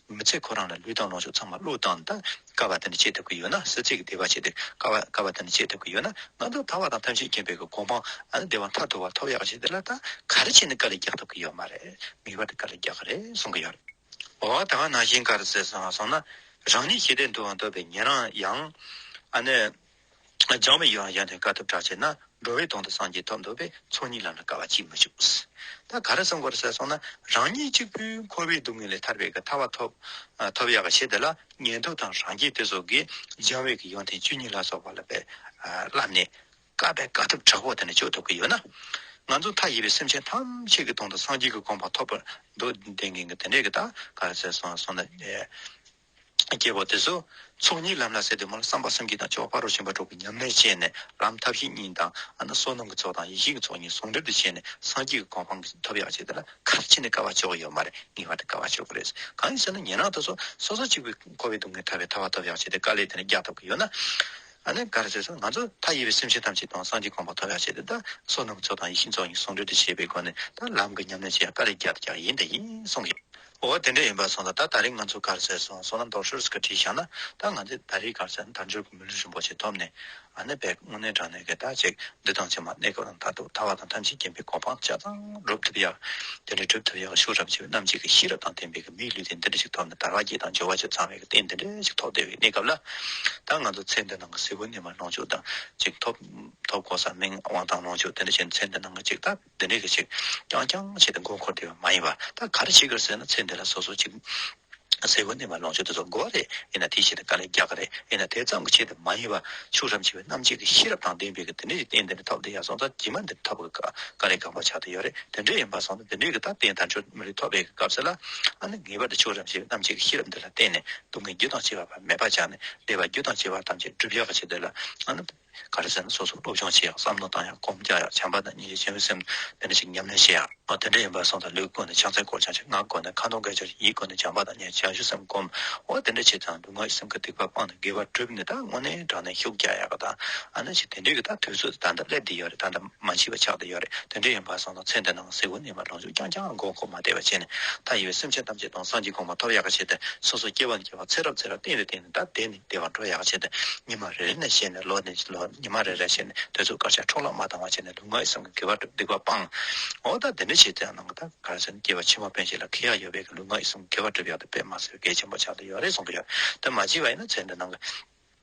མི་ཚེ་ཁོ་རང་ལ་ལུས་དང་ལོངས་ཕྱོགས་ཚང་མ་བློས་བཏང་ད་ཀ་བ་དེ་འདྲ་བྱེད་ཐུབ་ཀྱི་ཡོད་ན་སེར་བྱེས་ཀྱི་བདེ་བ་བྱེད་ད་ཀ་བ་ཀ་བ་དེ་འདྲ་བྱེད་ཐུབ་ཀྱི་ཡོད་ན་ང་ཚོ་ད་བ་དང་ཐམས་ཅད་མཁྱེན་པའི་གོ་འཕང་ཨ་ནི་བདེ་བ་མཐའ་དོར་བ་ཐོབ་ཡག་བྱེད་ད་ལ་ད་ག་རེ་བྱས་ནས་ཀ་ལ་རྒྱག་ཐུབ་ཀྱི་ཡོད་མ་རེད་ངེས་པར་དུ་ཀ་ལ་རྒྱག་གི་རེད་གསུང་གི་ཡོད། འོ་ད་ང་ནང་བཞིན་ག་རེ་ཟེར་སོང་ང་སོང་ན་རང་ཉིད་ཤེས་ལྡན་དུའང་འདོད་པའི་ཉན་རང་ཡང་ཨ་ནི། སྦྱང་བའི་ཡུལ་ཡང་ཡང་ནས་དཀའ་ཐུབ་དྲག་ཆེ་ན་འགྲོ་བའི་དོན་དུ་སངས་རྒྱས་ཐོབ་འདོད་པས་ཚོགས་གཉིས་ལམ་ལ་དཀའ་བ་ཅིས་མི་འཇུག། ད་ག་རེ་གསུངས་དགོས་ཟེར་སོང་ན་རང་ཉིད་གཅིག་པུས་འཁོར་བའི་སྡུག་བསྔལ་ལས་ཐར་བའི་ག་ཐ་བ་ཐོབ། ཐོབ་ཡག་གི་ཆེད་དེ་ལ་ཉན་ཐོས་དང་རང་རྒྱལ་དེ་སོགས་ཀྱིས་སྦྱང་བའི་གི་ཡོན་ཏན་བཅུ་གཉིས་ལ་སོགས་པ་ལ་བས་བསླབས་ནས་དཀའ་བའི་དཀའ་ཐུབ་དྲག་པོ་དེ་ནས་སྤྱོད་ཐུབ་ཀྱི་ཡོད་ན། ང་ཚོ་མཐའ་ཡས་པའི་སེམས་ཅན་ཐམས་ཅད་ཀྱི་དོན་དུ་སངས་རྒྱས་ཀྱི་དགོངས་པ་ཐོབ་པར་འདོད་དེ་འགན་གྱི་དེ་འདྲས་ཀྱི་ད་ག་རེ་ཟེར་སོང་ན། སྐྱེ་བ་དེ་སོགས་ཚོགས་གཉིས་ལམ་ལ་ཟད་དུ་མ་ལ་བསམ་པ་སེམས་ཀྱི་དང་ཕྱོགས་པ་རོ་ཞིང་པ་གྲོགས་ཀྱི་ཉམས་ལེན་བྱས་ནས་ལམ་ཐབས་ཤེས་གཉིས་དང་བསོད་ནམས་ཀྱི་ཚོགས་དང་ཡེ་ཤེས་ཀྱི་ཚོགས་གཉིས་ཟུང་འབྲེལ་དུ་བྱས་ནས་སངས་རྒྱས་ཀྱི་གོ་འཕང་གི་ཐོབ་ཡག་བྱེད་དེ་ལ་ཁ་ཕྱེ་ནས་དཀའ་བ་ཕྱོགས་ཡོད་མ་རེད་ངེས་པར་དུ་དཀའ་བ་ཕྱོགས་ཀྱི་རེད་གང་ཡིན་ཟེར་ན་ཉན་རང་དང་སོ་སོ་གཅིག་པུས་འཁོར་བའི་སྡུག་བསྔལ་ཐར་བའི་ཐར་བ་ཐོབ་ཡག་བྱེད་དེ་དཀའ་ལས་དེ་འདྲ་རྒྱག་ཐུབ་ཀྱི་ཡོད་ན་ནི་དགའ་རེད་ཟེར་སོང་ང་ཚོ་མཐའ་ཡས་པའི་སེམས་ཅན་ཐམས་ཅད་དང་སངས་རྒྱས་གོ་འཕང་ཐོབ་ཡག་བྱེད་དེ་ད་བསོད་ནམས་ཀྱི་ཚོགས་དང་ཡེ་ཤེས་ཀྱི་ཚོགས་གཉིས་ཟུང་འབྲེལ་དུ་བྱས་པའི་སྒོ་ནས་ད་ལམ་གྱི་ཉམས་ལེན་བྱེད་ཡག་དཀའ་ལས་རྒྱག་དེ་རྒྱག་ཡིན་དེ་ཡིན་གསུངས་ཡོད། འོ་དེ་འདྲ་ཡིན་པ་སོང་ལ་ད་ད་རེས་ང་ཚོ་སྒར་བཙལ་སོང་སོང་ལ་མདོག་ཤོར་ཟིག་ག་བྲིས་བཞག་ན་ད་ང་ཚོས་ད་རེས་སྒར་བཙལ་ན་དར་འབྱོར་གྱི་མི་ལུས་རིན་པོ་ཆེ་ཐོབ་ནས་ཨ་ནེ་བས་དངོས་གནས་དྲང་གནས་ཀྱི་བརྟག་དཔྱད་འདི་དང་ཕྱི་མ་གནས་སྐབས་རང་ཐག་ཐུག་ཐ་བ་དང་ཐམས་ཅད་རྐྱེན་པས་གོ་འཕང་ཆ་ཚང་སྒྲུབ་ཐུབ་ཡག་དེ་འདྲ་སྒྲུབ་ཐུབ་ཡག་ཤུགས་རབ་ཆེ་བའི་རྣམ་འབྱེད་ཀྱི་ཤེས་རབ་དང་ལྡན་པའི་གི་མིག་ལུས་རྟེན་འདི་འདྲ་ཞིག་ཐོབ་ནས་དར་བ་བརྒྱད་དང་འབྱོར་བ་བཅུ་ཚང་བའི་གི་རྟེན་འདི་འདྲ་ཞིག་ཐོབ་བདེ་བའི་གནས་སྐབས་ལ་ད་ང་ཚོ་ཚེ་འདི་ནང་གི་གཟི་བོ་ནི་མ་ལོངས་སྤྱོད་དང་ཅིག་ཐོབ་ཐོབ་གོ་ས་མིང་དབང་དང་ལོངས་སྤྱོད་དེ་འདྲ་བྱས་ནས་ཚེ་འདི་ནང་གི་ཅིག་ཐབས། དེ་འདྲའི་གི་ཅིག། རྐྱང་རྐྱང་བྱས་ཏེ་མགོ་འཁོར་བསྡད་པ་མ་ཡིན་པར་ད་ག་རེ་བྱེད་དགོས་ཟེར་ན་ཚེ་འདི་ལ་སོ་སོ་ཅིག། ཟས་གོས་གནས་པ་ལོངས་སྤྱོད་དུ་ཚོགས་དགོས་བ་རེད་ཡིན་ན་དེ་བྱས་ཏེ་དཀའ་ལས་རྒྱག་གི་རེད་ཡིན་ན་དེ་ཙམ་གི་ཆེད་དུ་མ་ཡིན་པར་ཕྱུགས་ཧྲམ་བྱེད་པའི་རྣམ་འབྱེད་ཀྱི་ཤེས་རབ་དང་ལྡན་པའི་གི་དེ་འདྲའི་རིགས་གཏན་འདི་འདྲ་ཐོབ་དེ་ཡང་སོང་ཙང་དྲི་མ་འདི་འདྲ་ཐོབ་གི་ག་རེ་འགག་པ་ཆགས་དེ་ཡོད་རེད་དེ་འདྲ་ཡིན་པར་སོང་ཙང་དེ་འདྲའི་གི་ད་ལྟའི་དར་འཕྱོར་མི་རིགས་ཐོབ་པའི་གི་སྐབས་ཟེར་ལ་ཨ་ནི་ངེས་པར་དུ་ཕྱུགས་ཧྲམ་བྱེད་པའི་རྣམ་འབྱེད་ཀྱི་ཤེས་རབ་འདི་ལ་བརྟེན་ནས་སྡུག་བསྔལ་རྒྱུ་དང་བྱེད་པ་བར་མེད་པ་སྦྱངས་ནས་བདེ་བ་རྒྱུ་དང་བྱེད་པ་ཐམས་ཅད་བསྒྲུབ་ཡག་གི་ཆེད་དུ་ལ་ཨ་ནི། ག་རེ་ཟེར་ན་སོ་སོར་སློབ་སྦྱོང་བྱེད་ཡག་བསམ་བློ་བཏང་ཡག་སྒོམ་རྒྱག་ཡག་བྱམས་པ་དང་གཉིས་ཀྱི་སྤྱི་འོས་སེམས་འདི་འདྲ་ཞིག་ཉམས་ལེན་བྱེད་ཡག་ཨོ་དེ་འདྲ་ཡིན་པ་སོང་ཙང་ལུས་སྒོ་ནས་ཕྱག་འཚལ་སྐོར་བྱང་ཆུབ་སྔགས་སྒོ་ནས་ཁ་ནོར་འགལ་བྱར་ཡིད་སྒོ་ནས་བྱམས་པ་དང་གཉིས་བྱང་ཆུབ་སེམས་སྒོམ་འོ་དེ་འདྲ་བྱས་ཙང་ལུས་ངག་ཡིད་སེམས་ཀྱི་སྡིག་པ་སྤངས་ནས་དགེ་བ་བསྒྲུབ་ནས་ད་དངོས་གནས་དྲང་བདེན་ཤུགས་རྒྱག་ཡག་གི་ད་ཨ་ན་ཞིག་དེ་འདྲས་ཀྱི་ད་དུས་ཚོད་ད་ལྟ་སླེབས་དེ་ཡོད་རེད་ད་ལྟ་མ་འཆི་བ་ཆགས་དེ་ཡོད་རེད་དེ་འདྲས་ཡིན་པ་སོང་ཙང་ཚེ་འདི་ནང་གཟིགས་བུ་ནས་མ་ལོངས་ཆུང་རྐྱང་རྐྱང་མགོ་མཁོག་མ་བདེ་བ་བྱས་ནས་མཐའ་ཡས་པའི་སེམས་ཅན་ཐམས་ཅད་དང་སངས་རྒྱས་གོང་མ་ཐོབ་ཡག་གི་བྱས་ཏེ་སོ་སོ་སྐྱེ་བ་ནས་སྐྱེ་བ་ཚེ་རབས་ཚེ་རབས་གཏན་རེ་གཏན་ནས་ད་བདེ་ནས། བདེ་བར་འགྲོ་ཡག་བྱས་ཏེ་ཉི་མ་རེ་རེ་ནས་བཤད་ནས་ལོ་ནས་ལོ་ཉི་མ་རེ་རེར་བཤད་ནས་དོལ་ཚུགས་དཀར་ཆག་འཕྲོག་བརླག་མ་བཏང་བ་བྱས་ནས་ལུས་ངག་ཡིད་གསུམ་གྱི་དགེ་བ་སྒྲུབ་སྡིག་པ་སྤང། འོ་ད་དེ་འདྲ་བྱས་ཚེ་ནང་ད་ག་རེ་ཟེར་ན་སྐྱེས་པ་ཕྱི་མ་དཔོན་ཞིག་ལ་ཁེ་ཡག་ཡོད་པས་ལུས་ངག་ཡིད་གསུམ་གྱི་དགེ་བ་སྒྲུབ་ཡག་ཏུ་དཔེ་མ་ཟེར་གལ་ཆེན་པོ་ཆགས་ཏེ་ཡོད་རེད་གསུང་གི་ཡོད་དོན་མ་བྱས་པ་ཡིན་ན་ཚེ་འདི་ནང་གི་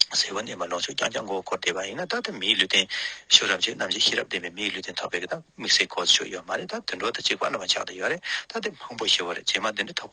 ཟས་གོས་གནས་མལ་ལོངས་སྤྱོད་རྐྱང་རྐྱང་མགོ་བོ་འཁོར་བསྡད་པ་ཡིན་ན་ད་ལྟ་མིའི་ལུས་རྟེན་ཞོར་རབ་བྱེད་རྣམ་བྱེད་ཤེས་རབ་ལྡན་པའི་མིའི་ལུས་རྟེན་ཐོབ་པས་ད་དམིགས་བསལ་གོ་ཆོད་ཡོད་མ་རེད་ད་དུད་འགྲོ་དང་གཅིག་པ་འདྲ་མ་ཆགས་ཏེ་ཡོད་རེད་ད་དེ་མང་པོ་ཞེ་བོ་རེད་རྗེས་མ་འདི་འདྲ་ཐོབ།